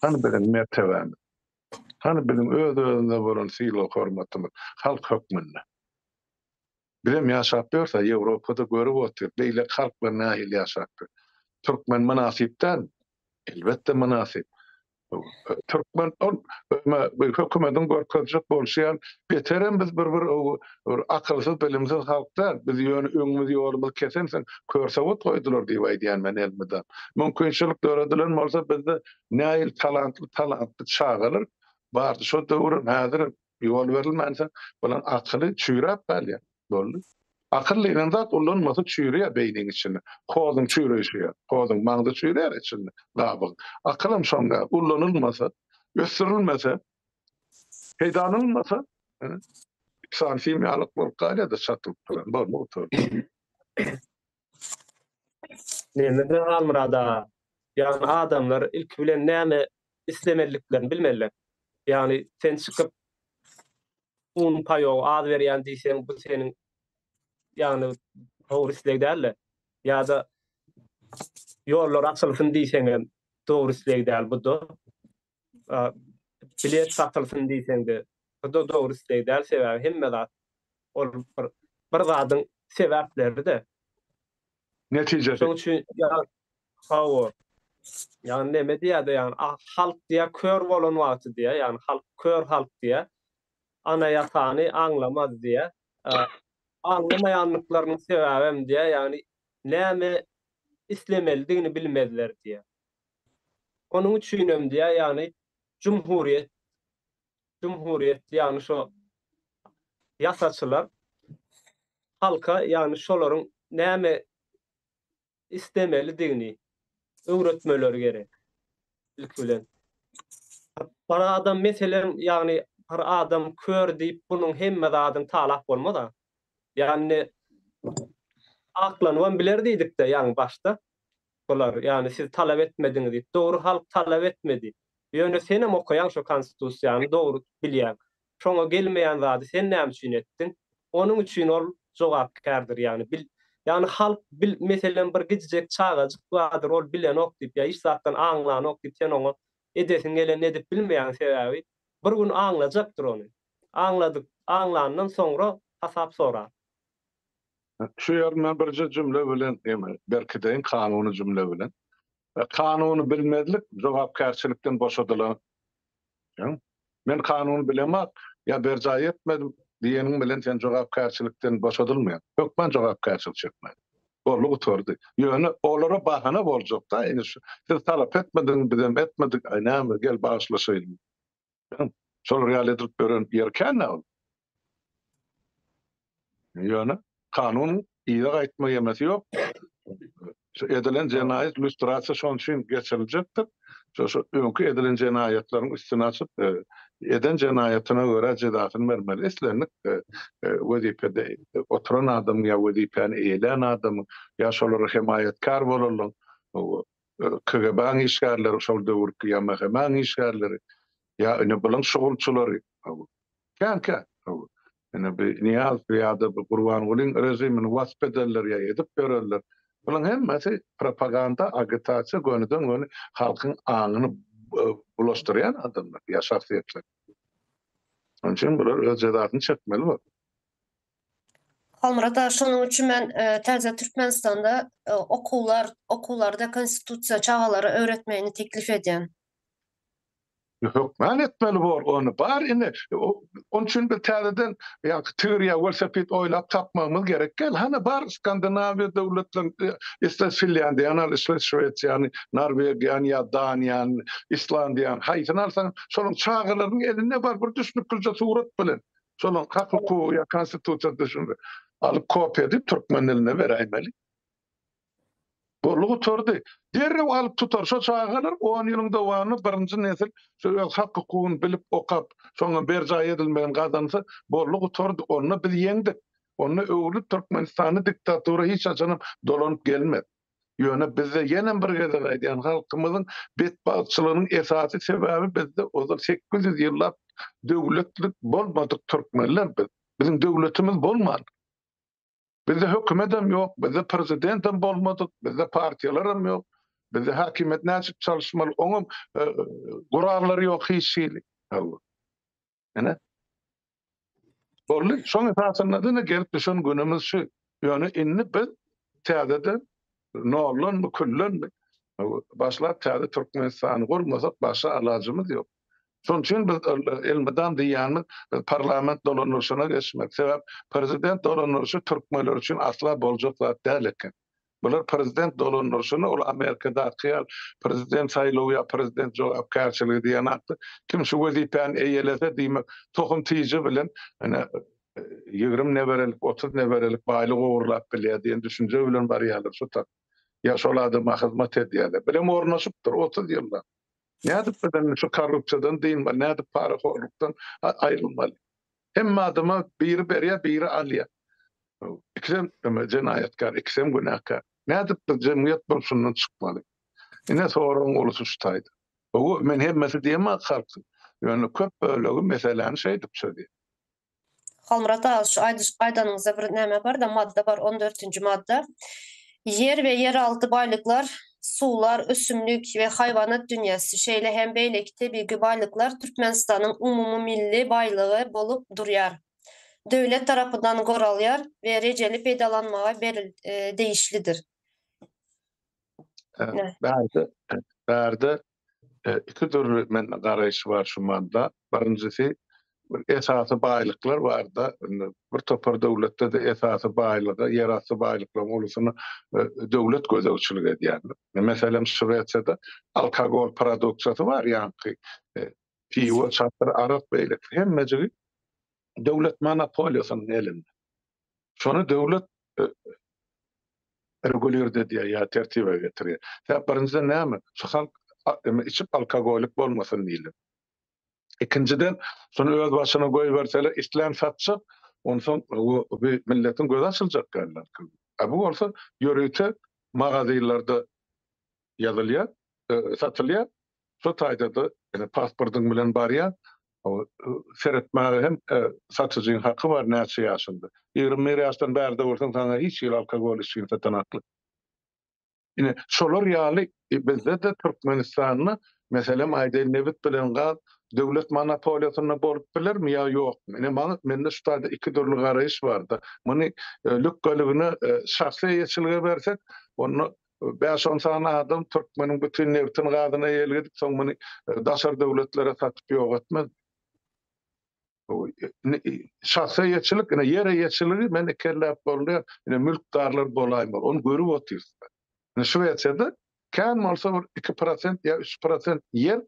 Hany biziň mertebämiz? Hany biziň öz-özümize bolan sylag-hormatymyz halk hökmünde? Bizem ýaşap ýörsä, Ýewropada görüp otyr, beýleki halklar nähili ýaşapdyr. Türkmen mynasyp dälmi? Elbetde mynasyp. Türkmen ol hökümetiň görkezjek bolşy ýaly beterem biz bir bir akylsyz bilimsiz halk däl biz ýöne öňümiz ýolumyz kesen sen kör sowut goýdular diýip aýdýan men elmydam. Mümkinçilik döredilen bolsa bizde näil talantly talantly çagalar bardy şo döwürem häzirem Ýol berilmänsoň, bulaň akyly çüýräp galýar. Boldy. Akyl diýlen zat ulanmasa çüýreýär beýniň içinde. Hozuň çüýreýşi ýaly. Hozuň maňzy çüýreýär içinde, gabygyň. Akylam şoň ýaly. Ulanylmasa, ösdürilmese, peýdalanylmasa, ynha, san himiýalyk bolup galýar-da çatylyp duran. Boldy gutardy. Neme bilen Halmyrat aga? Ýagny adamlar ilki bilen näme islemeliliklerini bilmeliler. Ýagny sen çykyp un paýogy az berýän diýseň bu seniň ýagny dogry isleg däl-de. Ýa-da ýollar açylsyn diýseňem dogry isleg däl bu-da. bilet satylsyn diýseňde bu da dogry isleg däl sebäbi hemme zat ol bir bir zadyň sebäpleride netijesi şoň üçin hawa ýagny neme diýýärdi ýagny halk diýýär kör bolan wagty diýýär ýagny halk kör halk diýýär anayasany aňlamaz diýýär aňlamaýanlyklarynyň sebäbem diýýär ýagny näme islemelidigini bilmezler diýýär Onuň üçinem diýýär, ýagny jumhuriýet, jumhuriýet, ýagny şo ýasaçylar halka, ýagny şolaryň näme islemelidigini öwretmeleri gerek, ilki bilen. Bir adam, meselem, ýagny bir adam kör diýip, munuň hemme zadyny talap bolmaz-a. Ýagny, aklanybam biler diýdik-de, ýagny başda. Bular, ýagny siz talap etmediňiz diýip. Dogry halk talap etmedi. Ýöne senem okaýaň şo konstitusiýany dogry bilýäň. Şoňa gelmeýän zady sen näme üçin etdiň? Onuň üçin ol jogapkärdir ýagny bil ýagny halk bil meselem bir gijijek çagajyk bardyr ol bilenok diýip ýa hiç zatdan aňlanok diýip sen oňa edesiň gelenini edip bilmeýäň sebäbi bir gün aňlajakdyr ony. Aňladyk aňlandan soňra hasap sorar. Şu ýerini men birje jümle bilen berkideýin, kanuny jümle bilen. Kanuny bilmezlik jogapkärçilikden boşadylan. Men kanuny bilemok ýa berjaý etmedim diýeniň bilen sen jogapkärçilikden boşadylmaýaň. Hökman jogapkärçilik çekmeli. Boldy gutardy. Ýöne olara bahana boljak-da indi şu. Siz talap etmediňiz, bizem etmedik, aý näme, gel bagyşlaşaýlyň. Şolar ýaly edilip ýören ýerkändä ol. Ýöne kanun yza gaýtma ýemesi ýok. Şu edilen jenaýat lýustrasiýa şonuň üçin geçiriljekdir. Şu öňki edilen jenaýatlaryň üstüni açyp, eden jenaýatyna görä jezasyny bermeli. Islendik wezipede oturan adamyň ýa wezipäni eýelän adamyň ýa şolara hemaýatkär bolanlaryň KGB-nyň işgärleri, şol döwürki ýa MHM-nyň işgärleri, ýa ine bulan şugulçylary, hawa, kän kän, hawa, ine bi Nyýazow ýa-da bi Gurbangulyň režimini wasp edenler ýa edip ýörenler, bulaň hemmesi propaganda, agitasiýa, gönüden-göni halkyň aňyny bulaşdyrýan adamlar ýa şahsyýetler. Şonuň üçin bular öz jezasyny çekmeli bor. Halmyrat aga şonuň üçin men e, täze Türkmenistanda e, okuwlar okuwlarda konstitusiýa çagalara öwretmegini teklip edýän. Hökman etmeli bor ony. Bar indi. Onun üçin bir täzeden ýa tigir ýa welosiped oýlap tapmagymyz gerek gel. Hana bar Skandinawiýa döwletlerinde, isle Finlandiýa, ýa al isle Şwesiýany, Norwegiýany ýa Daniýany, Islandiýany, haýsyny alsaň, şonuň çagalaryň elinde bar bir düşnüklice surat bilen. Şonuň hak hukugy ýa konstitusiýa düşündi. Alyp kopýa edip türkmen diline beräýmeli. Boldy gutardy. Derrew alyp tutar şo çagalar on ýylyň dowamynda birinji nesil şo öz hak hukugyny bilip okap şoňa berjaý edilmegini gazansa boldy gutardy. Onda biz ýeňdik. Onda öwrülip türkmenistanda diktatura hiç haçanam dolanyp gelmez. Ýöne bizde ýenem bir gezek aýdýan halkymyzyň betbagtçylygynyň esasy sebäbi bizde ozal sekiz ýüz ýyllap döwletlik bolmadyk türkmenler biz. Biziň döwletimiz bolman. Bizde hökümetem ýok, bizde prezidentem bolmadyk, bizde partiýalaram ýok. Bizde häkimiýet näçip çalyşmaly oňam gurallary ýok hiç hili. Ene. Bolly, şoň esasynda da gelip düşen günümiz şu. Ýöne indi biz täzeden noldan bu küllen başlap täze Türkmenistany gurmasak başga alajymyz ýok. Şoň üçin biz elmydam diýýänimiz parlament dolandyryşyna geçmek. Sebäp prezident dolandyryşy türkmenler üçin asla boljak zat däl eken. Bular prezident dolandyryşyny ol Amerikadaky ýaly prezident saýlawy ýa prezident jogapkärçiligi diýen atda kim şu wezipäni eýelese diýmek tohum tyjy bilen ine ýigrimi neberelik otuz neberelik baýlyk ogurlap bilýär diýen düşünje bilen barýarlar şu tak ýa şol adama hyzmat edýärler birem ornaşypdyr otuz ýyllap nädip biz indi şu korrupsiýadan dynmaly nädip parahorlukdan aýrylmaly. Hemme adama biri berýär, biri alýar. Ikisem jenaýatkär, ikisem günäkär. Nädip biz jemgyýet bolup şundan çykmaly? Ine soragyň ulusy şu taýda. Hawa, men hemmesi diýemok ak halkyň. Ýöne köp bölegi meseläni şeýdip çözýär. Halmyrat aga şu aýdyş aýdanyňyzda bir näme barda madda bar on dörtünji madda Ýer we ýeralty baýlyklar, suwlar, ösümlik we haýwanat dünýäsi, şeýle hem beýleki tebigy baýlyklar Türkmenistanyň umumymilli baýlygy bolup durýar, döwlet tarapyndan goralýar we rejeli peýdalanmaga degişlidir. Bärde iki dürli mende garaýyş bar şu manda. Birinjisi bir esasy baýlyklar barda, indi bir topar döwletde-de esasy baýlygy, ýerasty baýlyklaryň ulusyny döwlet gözegçilik edýär. Meselem, Şwesiýada alkogol produksiýasy bar, ýaňky piwo, çakyr, arak beýleki hemmejigi döwlet monopoliýasynyň elinde. Şony döwlet regulýird edýär ýa tertibe getirýär. Sebäp birinjiden näme? Şu halk içip alkogolik bolmasyn diýlip. Ikinjiden şony öz başyna goýberseler islän satjak, onsoň bu milletiň gözi açyljak ýaly. A bu bolsa ýörite magazinlerde ýazylýar, satylýar. Şo taýda-da ýene pasportyň bilen barýar. Seretmäge hem satyjyň haky bar, näçe ýaşynda. Ýigrimi bir ýaşdan bärde bolsaň, saňa hiç hili alkogol içgini satan hakly. Ine, şolar ýaly bizde-de Türkmenistanda, meselem aýdaýyn, nebit bilen gaz döwlet monopoliýasynda bolup bilermi ýa ýokmy? Ine, maňa, mende şu taýda iki dürli garaýyş bar-da. Muny lükgeligine şahsy eýeçilige bersek, onda Bäş-on sany adam türkmeniň bütin nebtin gazyna eýelik edip, soň muny daşary döwletlere satyp ýok etmez. Şahsa eýeçilik, ine ýer eýeçiligi men iki elläp boldy, ine mülkdarlar bolaýmaly, ony görüp otyrys. Ine Şwesiýada kän bolsa bir iki prosent ýa üç prosent ýer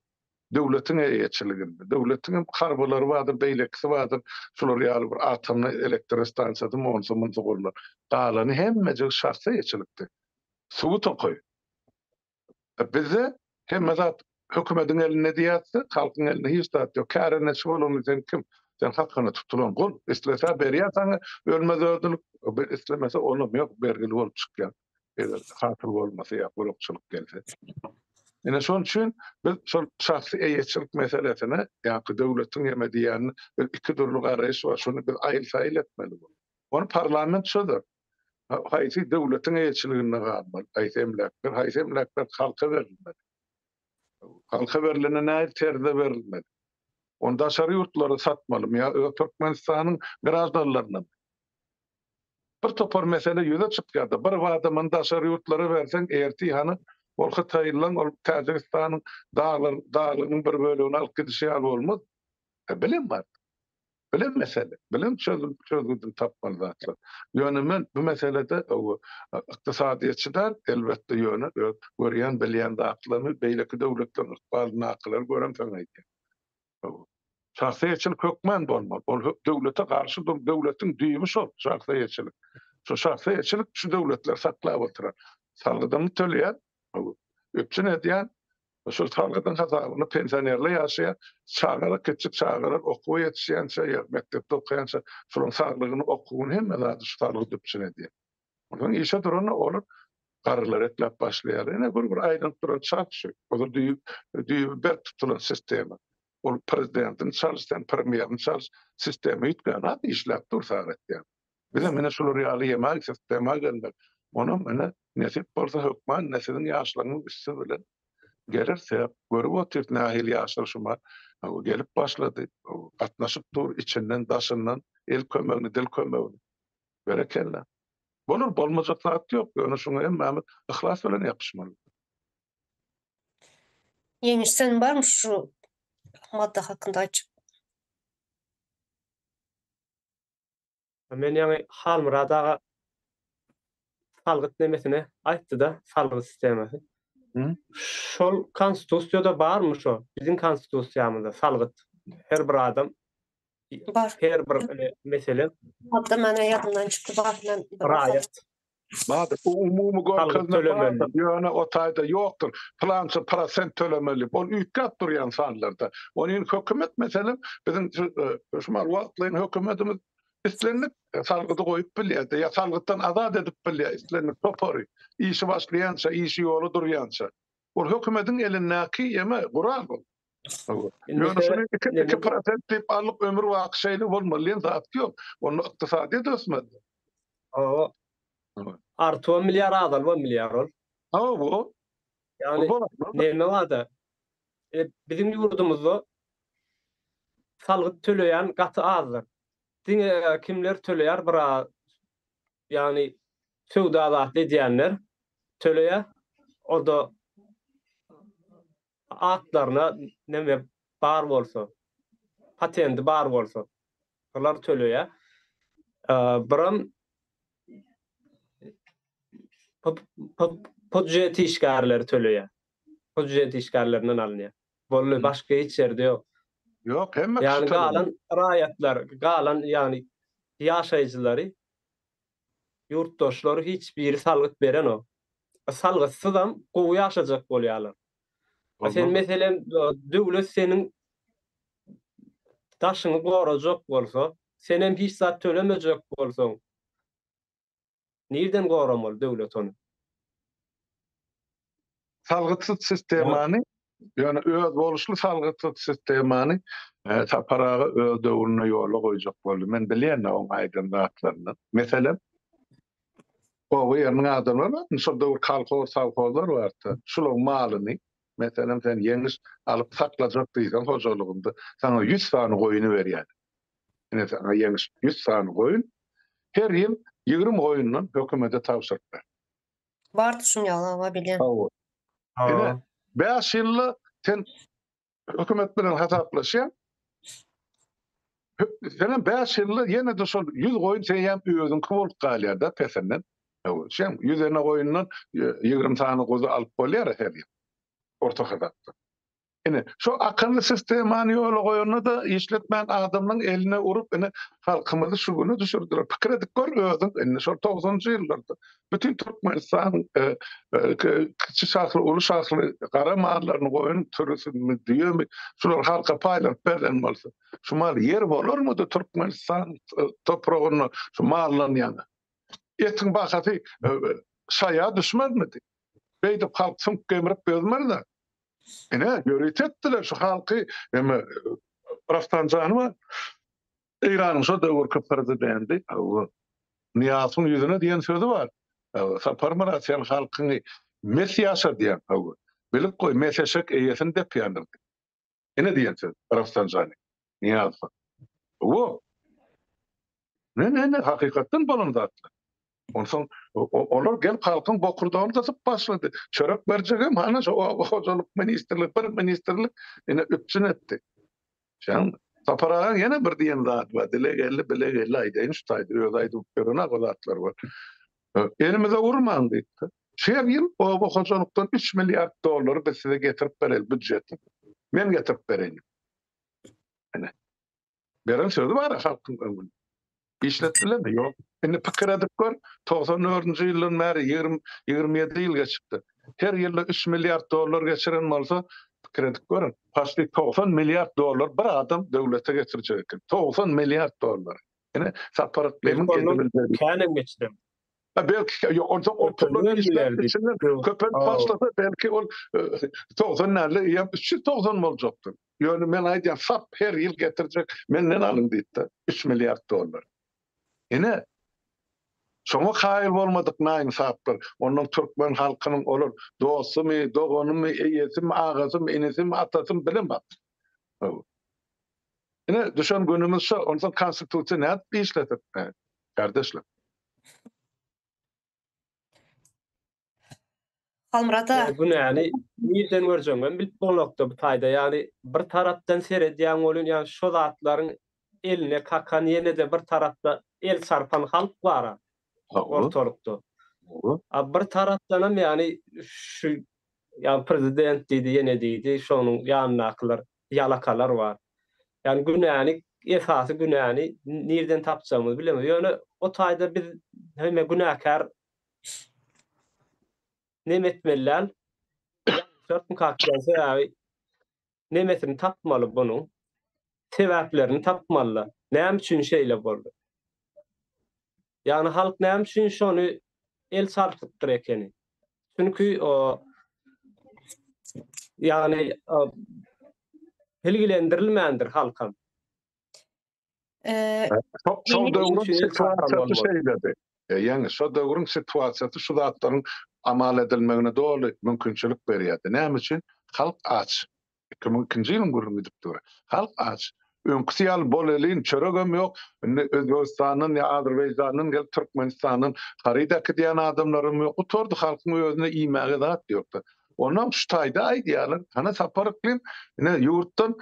Döwletiň eýeçiliginde. Döwletiň hem harbylary bardyr, beýlekisi bardyr. Şular ýaly bir atomny elektrostansiýasy monsa munsa gurlar. Galany hemmejigi şahsy eýeçilikde. Suwy tokaý. E bizde hemme zat hökümediň elinde diýýäs-de, halkyň elinde hiç zat ýok. Kärendeçi bolanda sen kim? Sen hakyna tutulan gul. Islese berýär saňa ölmez ödül, islemese onam ýok, bergili bolup çykýaň. eger hasyl bolmasa ýa gurakçylyk gelse. Ine şonuň üçin biz şol şahsy eýeçilik meselesine ýa-da döwletiň ýeme diýýänine biz iki dürli garaýyş bar, şuny biz aýyl-saýyl etmeli bu. Ony parlament çözer. Haýsy döwletiň eýeçiliginde galmaly, haýsy emläkler, haýsy emläkler halka berilmeli. Halka berilende nähili terzde berilmeli? Ony daşary ýurtlara satmalymy ýa öz Türkmenistanyň graždanlaryna? Bir topar mesele ýüze çykýarda bir badamyny daşary ýurtlara berseň ertir hany ol hytaýlylaň ol Täjigistanyň daglarynyň bir bölegini alyp gidişi ýaly bolmaz. E bilen bar. Bilen mesele. Bilen çözüm çözgüdini tapmaly zatlar. Ýöne men bu meselede ykdysadyýetçi däl elbetde ýöne öz görýän bilýän zatlarymy beýleki döwletleriň ykbalyny nakylar göremsoň aýdýan. Şahsyýetçilik hökman bolmaly. Ol döwlete garşy durup, döwletiň düýbi şol şahsyýetçilik. Şu şahsyýetçilik şu döwletleri saklap oturan. Salgydyňy töleýän, üpjün edýän, şol salgydyň hasabyna pensionerler ýaşaýar, çagalar kiçijik çagalar okuwa ýetişýänçä ýa mekdepde okaýança şolaryň saglygyny, okuwyny hemme zady şu salgyt üpjün edýär. Ondan işe duran olar garrlar etlap başlaýar. Ene bir bir aýdyp duran çak şu. Ozal düýp düýp berk tutulan sistema. Ol prezidentiň çalyş sen premýeriň çalyş sistema ýitgen hat işläp dur sagatda. Bize meni şular ýaly ýemak sistema gelmeli. Onam meni nesip bolsa hökman ne siziň ýaşlaryň üsti bilen geler sebäp görüp otyr nähili ýaşlar şuma gelip başlady. Gatnaşyp dur içinden daşyndan el kömegini dil kömegini. Berekella. Bolar, bolmajak zat ýok, ýöne şoňa hemmämiz yhlas bilen ýapyşmaly. Ýeňiş sen barmy şu madda hakynda aýtjak. Men ýaňy Halmyrat aga salgyt nemesini aýtdyda salgyt sistemasy. Şol konstitusiýada barmy şo biziň konstitusiýamyzda salgyt her bir adam Bar. Her bir e, mesele Hatta mana ýadymdan çykdy bardan. raýat Bardyr. Bu umumy görkezme tölemeli. bardyr. Ýöne o taýda ýokdur. Pylança prosent tölemeli. Ol üýtgäp durýan sanlarda. Ony indi hökümet meselem biziň şu e, şu mal wagtlaýyn hökümetimiz islendik e, salgydy goýup bilýär-de, ýa salgytdan azat edip bilýär islendik topary. Işi başlaýança, işi ýola durýança. Ol hökümetiň elindäki ýeme gural ol. Ýöne şuny iki prosent diýip alyp ömür baky şeýle bolmaly diýen zat ýok. Onda ykdysadyýet ösmez. Hawa. Artybam bilýär, azalybam bilýär ol. Hawa bu. Ýagny näme barda? E, biziň ýurdumyzda salgyt töleýän gaty azdyr. Diňe e, kimler töleýär bir ýagny söwda zat edýänler töleýär. O da atlaryna neme bar bolsa, patendi bar bolsa, olar töleýär. Biram pudjet işgärleri töleýär. Pudjet işgärlerinden alynýar. Boldy, başga hiç ýerde ýok. Ýok, hemme kişi töleýär. Ýagny galan raýatlar, galan ýagny ýaşaýjylary Ýurtdaşlar hiç biri salgyt berenok. Salgytsyzam gowy ýaşajak bolýarlar. Sen meselem döwlet seniň daşyňy gorajak bolsa, senem hiç zat tölemejek bolsaň, nirden goramaly döwlet ony? salgytsyz sistemany, ýöne özboluşly salgytsyz sistemany e, Sapar aga öz döwründe ýola goýjak boldy. Men bilýän oň aýdan zatlaryny. Meselem, oba ýeriniň adamlary bar, şol döwür kolhoz, sowhozlar bardy. Şularyň malyny, meselem, sen ýeňiş alyp saklajak diýseň hojalygynda, sana 100 sany goýuny berýär. Ine, sana ýeňiş 100 sany goýun, her ýyl 20 goýundan hökümete tabşyryp ber. Bar tuşum ýaly awa bilýän. Hawa. Ine, Hawa. 5 ýylda sen hökümet bilen hasaplaşýaň. Hö- Senem 5 ýylda ýene-de şol 100 goýun seýem özüňki bolup galýar-da pesinden. Hawa, şem 100 däne goýundan e, 20 sany guzy alyp bolýar-a her ýyl. Orta hasapdan. Ine, şu akylly sistemany ýola goýanda-da işletmän adamlaryň eline urup, ine, halkymyzy şu güne düşürdiler. Pikir edip gör özüň, indi şol togsanjy ýyllarda bütin Türkmenistan kiçi şahly, uly şahly gara mallaryny, goýun sürüsini, düýemi, şulary halka paýlanyp berlen bolsa, şu mal ýer bolarmydy Türkmenistan topragynda şu mallanýana? Etiň bahasy şaýa düşmezmidi? Beýdip halk süňk gemrip dözmez-dä. Ine, ýörite etdiler şu halky. Emme Rafsanjanowa Eýranyň şo döwürki prezidenti Niýasyň ýüzüne diýen sözi bar. Saparmyrat sen halkyňy mes ýaşadýaň. Bilip goý, mes eşek eýesini depýändir. Ine diýen söz Rafsanjanyň. Nyýaz han. Hawa. Ne-ne-ne, hakykatdan bolan zatlar. Onsoň olar gelip halkyň bokurdagyny gysyp başlady. Çörek berjegem hany şo oba hojalyk ministrligi, bir ministrlik ine üpjün etdi. Şaň, Sapar agaň ýene bir diýen zady bar, dile geldi, bile geldi, aýdaýyn şu taýda, özi aýdyp ýören-ä bu zatlar bar. Elimize urmaň diýipdir. Şu her ýyl oba hojalykdan üç milliard dollary biz size getirip bereýin, býujetden. Men getirip bereýin. Beren sözi bar-a halkyň öňünde. Işletdilermi? Ýok. Indi pikir edip gör, togsan dördünji ýyldan bäri ýigrimi, ýigrimi ýedi ýyl geçipdir. Her ýylda üç milliard dollar geçiren bolsa, pikir edip görüň, paçly togsan milliard dollar bir adam döwlete getirjek eken. Togsan milliard dollary. Ine, Sapar Yklymy. Belki ondan kän hem geçiren. Belki yok on çok on toplanıyor işler içinden köpen başlasa belki on tozan nerede ya üç yüz tozan mı olacaktı? Yani men ayda sap her yıl getirecek menden alın deyip de üç milyar dolar. Yine Şoňa kaýyl bolmadyk naýyn saplar, ondan türkmen halkynyň olar dostumy, doganymy, eýesimi, agasymy, inisimi, atasymy bilemok. Ine, düşen günümüz şu, ondan konstitusiýa nädip işledik? Kardeşler. Halmyrat aga. Ýa günäni nirden görjegiň hem bilip bolnokda bu taýda ýagny bir tarapdan seredýäň welin ýa şo zatlaryň eline kakan ýenede bir tarapda el çarpan halk bara ortalykda. A bir tarapdanam ýagny şu ýa prezident diýdi ýene diýdi şonuň ýanyndakylar ýalakalar bar. Ýagny günäni, esasy günäni nirden tapjagymyzy bilemedik. Ýöne o taýda biz hemme günäkär neme etmeli däl? sebäbi nemesini tapmaly bunuň. Sebäplerini tapmaly. Näme üçin şeýle boldy? Ýagny halk näme üçin şony el çarpypdyr ekeni? Çünki ýagny bilgilendirilmändir halkam. Şol döwrüň situasiýasy şeýledi. Ýagny şol döwrüň situasiýasy şu zatlaryň amal edilmegine doly mümkinçilik berýärdi. Näme üçin? Halk aç. iki müň ikinji ýylyň gürrüňi gidip dur. Halk aç. Öňküsi ýaly bolelin çöregem ýok. Indi Özbegistandan ýa Azerbaýjandan gelip Türkmenistandan haryt äkidýän adamlaram ýok. Gutardy halkyň özünde iýmäge zat ýokdy. Onam şu taýda aýdýarlar. Hany Sapar yklym ine ýurtdan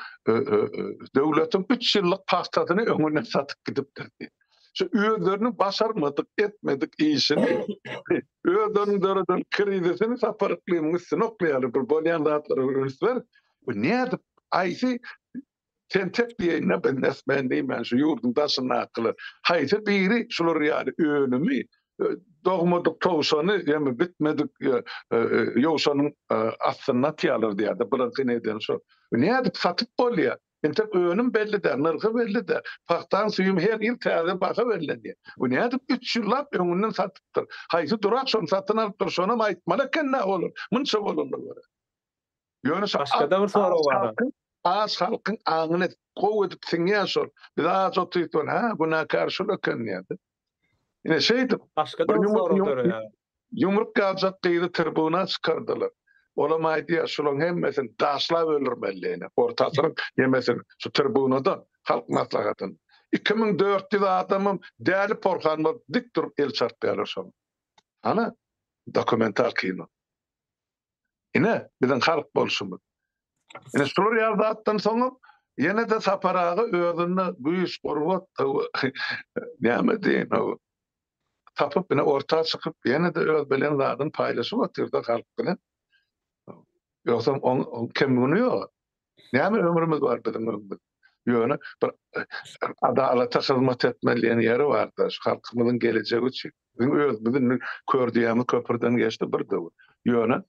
döwletiň üç ýyllyk pagtasyny öňünden satyp gidipdir diýip. Şu özleriniň başarmadyk, etmedik işini Özleriniň döreden krizisini Sapar Yklymyň üstüne oklaýarlar, bir bolýan zatlary üns ber. Bu nädip, haýsy tentek diýeýine benäsmän diýmän şu ýurduň daşyndakylar, haýsy biri şular ýaly ölümi, dogmadyk towşany ýa-da bitmedik ýowşanyň astynda atýarlar diýýär-de, bularyňky edeni şo. Bu nädip satyp bolýar? Entek önüm belli däl, nyrhy belli däl. Pagtaň süýümi her ýyl täze baha bellenýär. Bu nädip üç ýyllap öňünden satypdyr? Haýsy durak şony satyn alypdyr, şonam aýtmaly eken-dä olar, munça bolanda görä. Ýöne şo Başgada bir sorag bar-a. Az halkyň aňyna gowy edip siňýär şol. Biz aç otypdyrys, hä, günäkär şul eken diýýär-de. Ine şeýdip, bir ýumruk ýumruk ýazjak gyzy tribuna çykardylar. Olam aýdýar, şularyň hemmesini daşlap öldürmeli ine, orta asyryň ýemesini, şu tribunada, halk maslahatynda. Iki müň dört ýüz adamam däli porhan bolup dik durup el çarpýarlar şoňa. Hany, dokumental kino. Ine, biziň halk bolşumyz. Ine, şular ýaly zatdan soňam ýene-de Sapar aga özünde güýç, gurbat, näme diýen, tapyp, ine, orta çykyp, ýene-de öz bilen zadyny paýlaşyp oturdy halk bilen. Ýogsam oň kemgüni ýok. Näme ömrümiz bar biziň öňde. Ýöne bir adalata hyzmat etmeli diýen ýeri barda, şu halkymyzyň gelejegi üçin. Biziň özümiz indi kör düýämiz köprüden geçdi bir döwür. Ýöne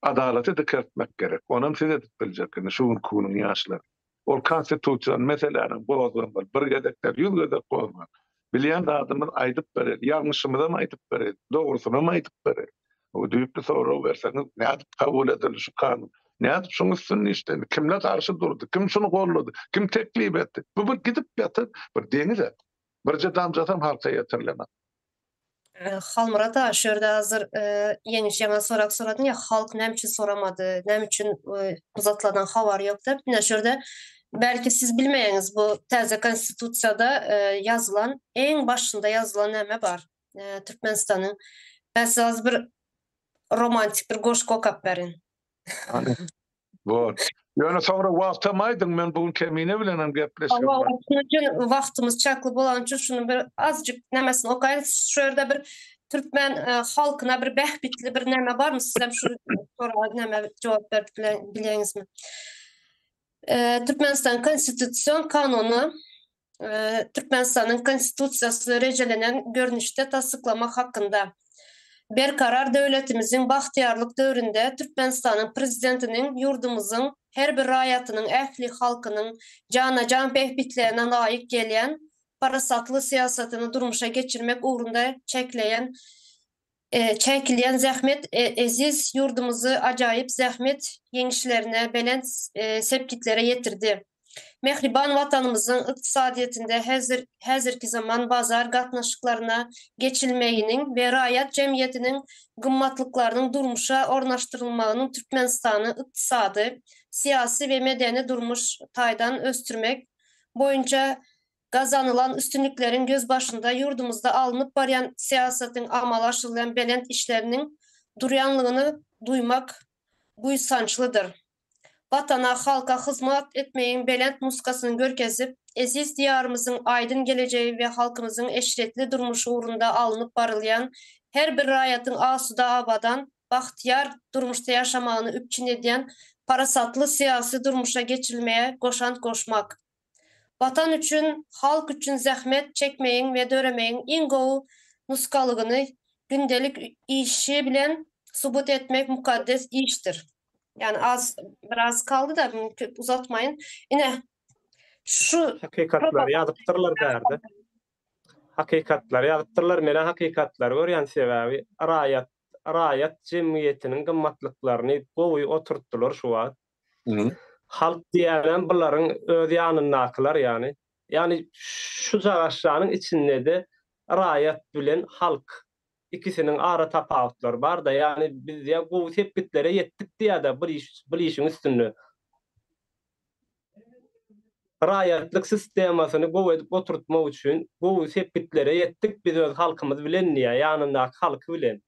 adalaty dikeltmek gerek. Onam siz edip biljek indi şu günki günüň ýaşlary. Ol konstitusion meseläni gozgamaly. Bir gezek däl, ýüz gezek gozgaň. Bilýän zadymyz aýdyp bereýin, ýalňyşymyzam aýdyp bereýin, dogrusynam aýdyp bereýin. Bu düýpli sorag berseňiz, nädip kabul edildi şu kanun? Nädip şuň üstünde işlendi? Kimler garşy durdy? Kim şuny gollady? Kim teklip etdi? Bu bir gidip ýatan bir deňiz-ä. Birje damjasam halka ýetirilenok. Halmyrat aga şu ýerde hazir Ýeňiş ýaňa sorag soradyň ýa halk näme üçin soramady näme üçin bu zatlardan habary ýok dep ine şu ýerde belki siz bilmeýäňiz bu täze konstitusiýada ýazylan eň başynda ýazylan näme bar Türkmenistanyň ben size bir romantik bir goşgy okap berin. Bor. Ýöne soňra wagtam aýdyň, men bu gün Kemine bilenem gepleşigim bar. Hawa, şunuň üçin wagtymyz çäkli bolany üçin şuny bir azjyk nämesini okaýyn. Şu ýerde bir türkmen halkyna bir bähbitli bir näme barmy? Sizem şu soraga näme jogap berip bileňizmi? Türkmenistanyň Konstitusion kanuny Türkmenistanyň Konstitusiýasyny rejelenen görnüşde tassyklamak hakynda Berkarar döwletimiziň bagtyýarlyk döwründe Türkmenistanyň Prezidentiniň ýurdumyzyň her bir raýatynyň, ähli halkynyň jana-jan bähbitlerine laýyk gelýän parasatly syýasatyny durmuşa geçirmek ugrunda çekleýän Çäkilýän zähmet eziz ýurdumyzy ajaýyp zähmet ýeňişlerine, belent sepgitlere ýetirdi. Mähriban Watanymyzyň ykdysadyýetinde häzirki zaman bazar gatnaşyklaryna geçilmeginiň we raýat jemgyýetiniň gymmatlyklarynyň durmuşa ornaşdyrylmagynyň Türkmenistany ykdysady, syýasy we medeni-durmuş taýdan ösdürmek boýunça Gazanylan üstünlikleriň gözbaşynda ýurdumyzda alnyp barýan syýasatyň amala aşyrylýan belent işleriniň durýanlygyny duýmak buýsançlydyr. Watana, halka hyzmat etmegiň belent nusgasyny görkezip, eziz Diýarymyzyň aýdyň gelejegi we halkymyzyň eşretli durmuşy ugrunda alnyp barylýan, her bir raýatyň asuda, abadan, bagtyýar durmuşda ýaşamagyny üpjün edýän parasatly syýasy durmuşa geçirilmegi goşant goşmak, Watan üçin, halk üçin zähmet çekmegiň we döremegiň iň gowy nusgalygyny gündelik işi bilen subut etmek mukaddes işdir. Ýagny az biraz kaldy-da, muny köp uzatmaýyn. Ine, şu Hakykatlary ýazypdyrlar bärde. Hakykatlary ýazypdyrlar. Men-ä hakykatlary görýän, sebäbi raýat, raýat jemgyýetiniň gymmatlyklaryny gowy oturtdylar şu wagt. Halk diýýänem bularyň öz ýanyndakylar ýany. Ýany şu cagaşjanyň içinde-de raýat bilen halk ikisiniň ara tapawutlary bar-da. Ýany biz ýa gowy sepgitlere ýetdik diýýä-de bir iş, bir işiň üstünde. Raýatlyk sistemasyny gowy edip oturtmak üçin gowy sepgitlere ýetdik biz öz halkymyz bilen diýýä, ýanyndaky halky bilen.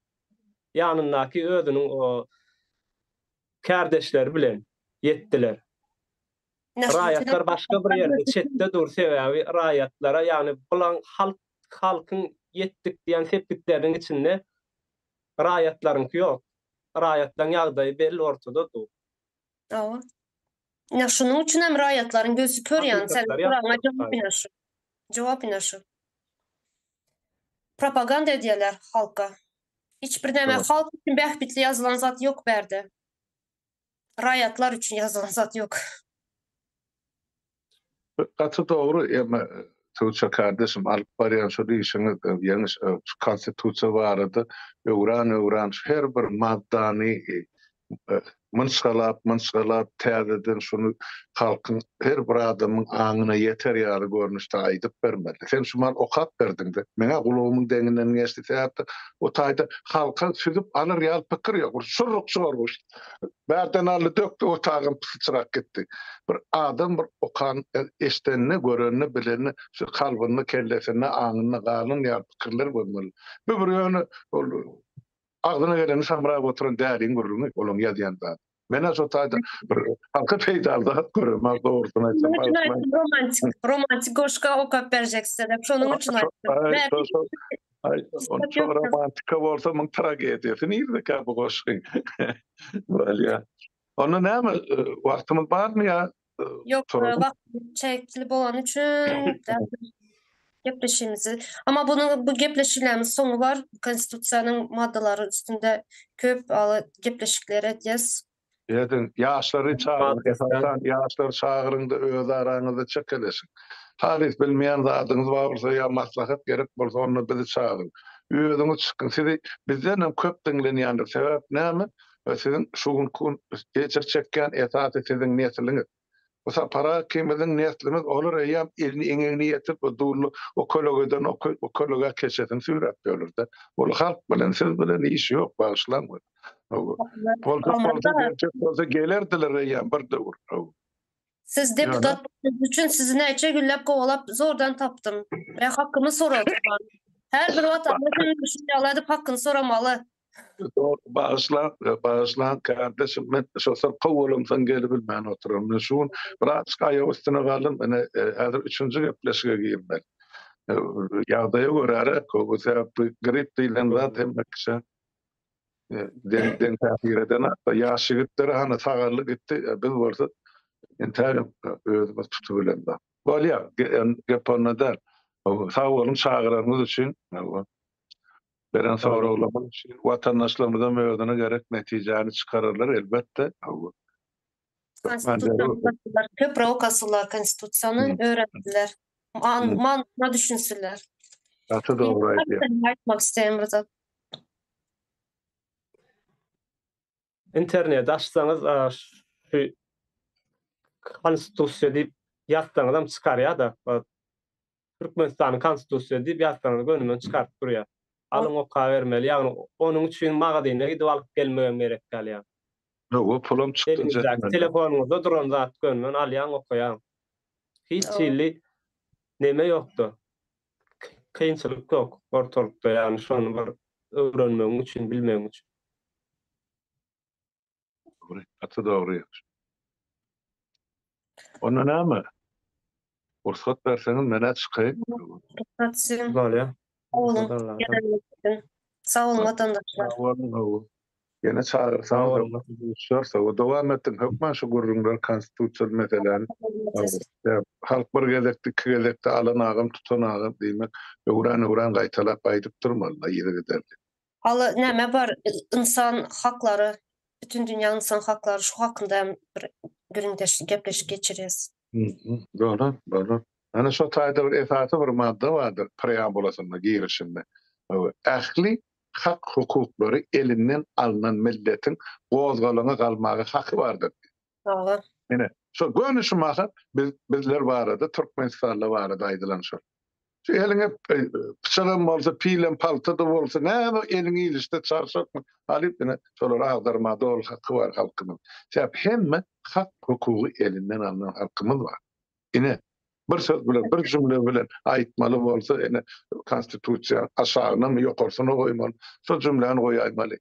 Ýanyndaky özüniň o kärdeşleri bilen ýetdiler. Raýatlar başga bir ýerde çetde dur sebäbi raýatlara ýagny bulan halk halkyň ýetdik diýen sepgitleriniň içinde raýatlaryňky ýok. Raýatlaryň ýagdaýy belli ortada dur. Hawa. Ine şunuň üçin hem raýatlaryň gözi kör ýagny sen soragyňa jogap ine şu. Jogap ine şu. Propaganda edýärler halka. Hiç bir näme halk üçin bähbitli ýazylan zat ýok bärde. Raýatlar üçin ýazylan zat ýok. Gaty dogry emme Tuça kardeşim alyp barýan şul işiňiz ýeňiş şu konstitusiýa barada öwran öwran şu her bir maddany mynçgalap, mynçgalap täzeden şuny halkyň her bir adamyň aňyna ýeter ýaly görnüşde aýdyp bermeli. Sen şumal okap berdiň-de, meň-ä gulagymyň deňinden geçdi, sebäpde o taýda halka süzüp alar ýaly pikir ýok. Bir şurruk çygar goşdy. Bärden aldy, dökdi, otagam pysyçyrap gitdi. Bir adam bir okan, eşdenini, görenini, bilenini şu kalbynda, kellesinde, aňynda galan ýaly pikirler bolmaly. Bu bir ýöne ol Agzyna geleni samrap oturan däliň gürrüňi olaň ýazýan zady. Men-ä şo taýdan bir halka peýdaly zat göremok dogrusyny aýtsam. Şonuň üçin aýtdym romantik, romantik goşga okap berjek size dep şonuň üçin aýtdym. Şo romantika bolsa muň tragediýasy nirdekä bu goşgyň. Bolýa. Onda näme wagtymyz barmy ýa Ýok, wagtymyz çäkli bolany üçin gepleşigimizi, amma munuň bu gepleşiklerimiziň soňy bar. Konstitusiýanyň maddalary üstünde köp ýaly gepleşikler edýäs. Ediň, ýaşlary çagyryň, esasan ýaşlary çagyryň-da öz araňyzda çekeleşiň. Halys bilmeýän zadyňyz bar bolsa ýa maslahat gerek bolsa onda bizi çagyryň. Özüňiz çykyň. Sizi bizdenem köp diňlenýändir. Sebäp näme? we siziň şu günki gün ejir çekýän esasy siziň nesliňiz. Bu sapara ikimiziň neslimiz olar eýýäm elini eňegine ýetirip bu dully o kölegeden o kölegä keçesini süýräp ýörler-de. Ol halk bilen siz bilen işi ýok bagyşlaň we bolsa bolsa berjek bolsa gelerdiler eýýäm bir döwür haw. Siz deputat bolanyňyz üçin sizi näçe günläp kowalap zordan tapdym we hakymy soradym. Her bir watandaş şunuň ýaly edip hakyny soramaly. Bagyşla, bagyşla kardeşim, men şu syrkaw bolamsoň gelip bilmän oturan. Men şu gün biraz aýak üstüne galdym, ine häzir üçünji gepleşige girdim men. Ýagdaýa görä-de, bu sebäpli grip diýlen zat hemme kişä deň-deň täsir eden zat. Ýaş ýigitler hany sagaldy gitdi, biz bolsa entägem özümizi tutup bilen zat. Bolýar, gep onda däl. Sag boluň çagyranyňyz üçin. Beren soraglarymyz üçin watandaşlarymyzam özüne gerek netijäni çykararlar elbetde. Köpri okasular konstitusiýany öwrensinler. Manysyna düşünsinler. Gaty dogry aýdýaň. Aýtmak isleýän bir zat. Interneti açsaňyz şu konstitusiýa diýip ýazsaňyzam çykarýar-da. Türkmenistanyň konstitusiýasy diýip ýazsaňyz gönümden çykaryp durýar. Alyň okabermeli, ýagny onuň üçin magazyna gidip alyp gelmegem gerek galýar. Hawa, pulam çykdy. Eliňizdäki telefonyňyzda duran zat gönümden alýaň, okaýaň. Hiç hili neme ýokda. Kynçylyk ýok ortalykda, ýagny şony bir öwrenmegiň üçin, bilmegiň üçin. Dogry, gaty dogry. Onda näme? Rugsat berseňiz, men-ä çykaýyn. Rugsat sizin. Bolýar. Sag boluň watandaşlar. Sag boluň, sag boluň. Ýene çagyrsaň, görüşerse, we dowam etdin hökman şu gürrüňler konstitusiýaly meseläni. Halk bir gezekde, iki gezekde alan agam, tutan agam diýmek, öwran-öwran gaýtalap aýdyp durmaly, yzygiderli. Hala näme bar ynsan haklary bütün dünýä ynsan haklary şu hakynda hem bir gürrüňdeşlik gepleşik geçireris. Bolar bolar. Ana şo taýda bir esasy bir madda bardyr preambulasynda girişinde ähli hak hukuklary elinden alnan milletiň gozgalaňa galmaga haky bardyr diýip. Salam. Ine, şo göni şu mahat biz bizler barada, Türkmenistanly barada aýdylan şo. Şu eliňe e, pyçagam bolsa, pilem paltada bolsa, näme eliň ilişde çarşakmy? Alyp ine şolar agdarma dol haky bar halkymyň. Sebäp hemme hak hukugy elinden alynan halkymyz bar. Ine bir söz bilen, bir jümle bilen aýtmaly bolsa, ine konstitusiýa aşagyna mı, ýokarsyna goýmaly. Şo jümläni goýaýmaly.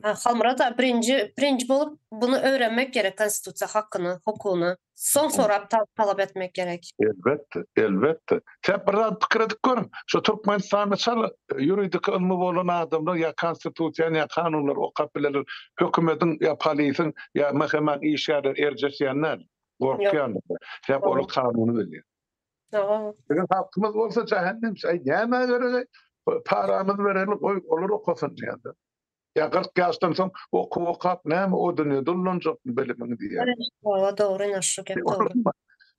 Halmyrat aga birinji birinji bolup bunu öwrenmek gerek konstitusiýa hakyny, hukugyny. Soň sorap talap etmek gerek. Elbetde, elbetde. Sen bir zat pikir edip görüň. Şu Türkmenistanda çal ýuridiki ylmy bolan adamlar ýa konstitusiýany ýa kanunlary okap bilerler. Hökümediň ýa polisiň ýa MHM-niň işgärleri erjeşýän däl. Gorkýandyr. Sebäbi olar kanuny bilýär. Eger halkymyz bolsa jahennem çay näme geregi? Paramyz bereli goy olar okasyn diýende. Ya 40 yaşdan soň oku okap näme o dünýä dullanjak bilimiň diýýär. Hawa dogry ine şu gep dogry.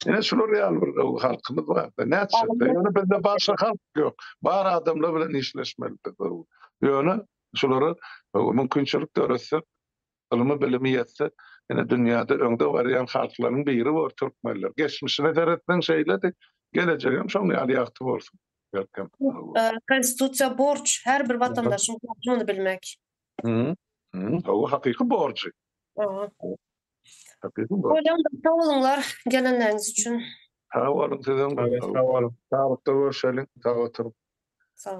Ine şular ýaly bir halkymyz bar. Näçe? Ýöne bizde başga halk ýok. Bar adamlar bilen işleşmeli biz. Ýöne şulara mümkinçilik döretsek Ylmy bilimi ýetse ine dünýäde öňde barýan halklaryň biri bor türkmenler. Geçmişine seretseň şeýledi, gelejegem şoň ýaly ýagty bolsun belkem. Konstitusiýa borç, her bir watandaşyň borjy muny bilmek. Hawa hakyky borjy. Bolýanda sag boluňlar gelenleriňiz üçin. Sag boluň sizem. Sag boluň. Saglykda görşeliň. Sag oturyň. Sag.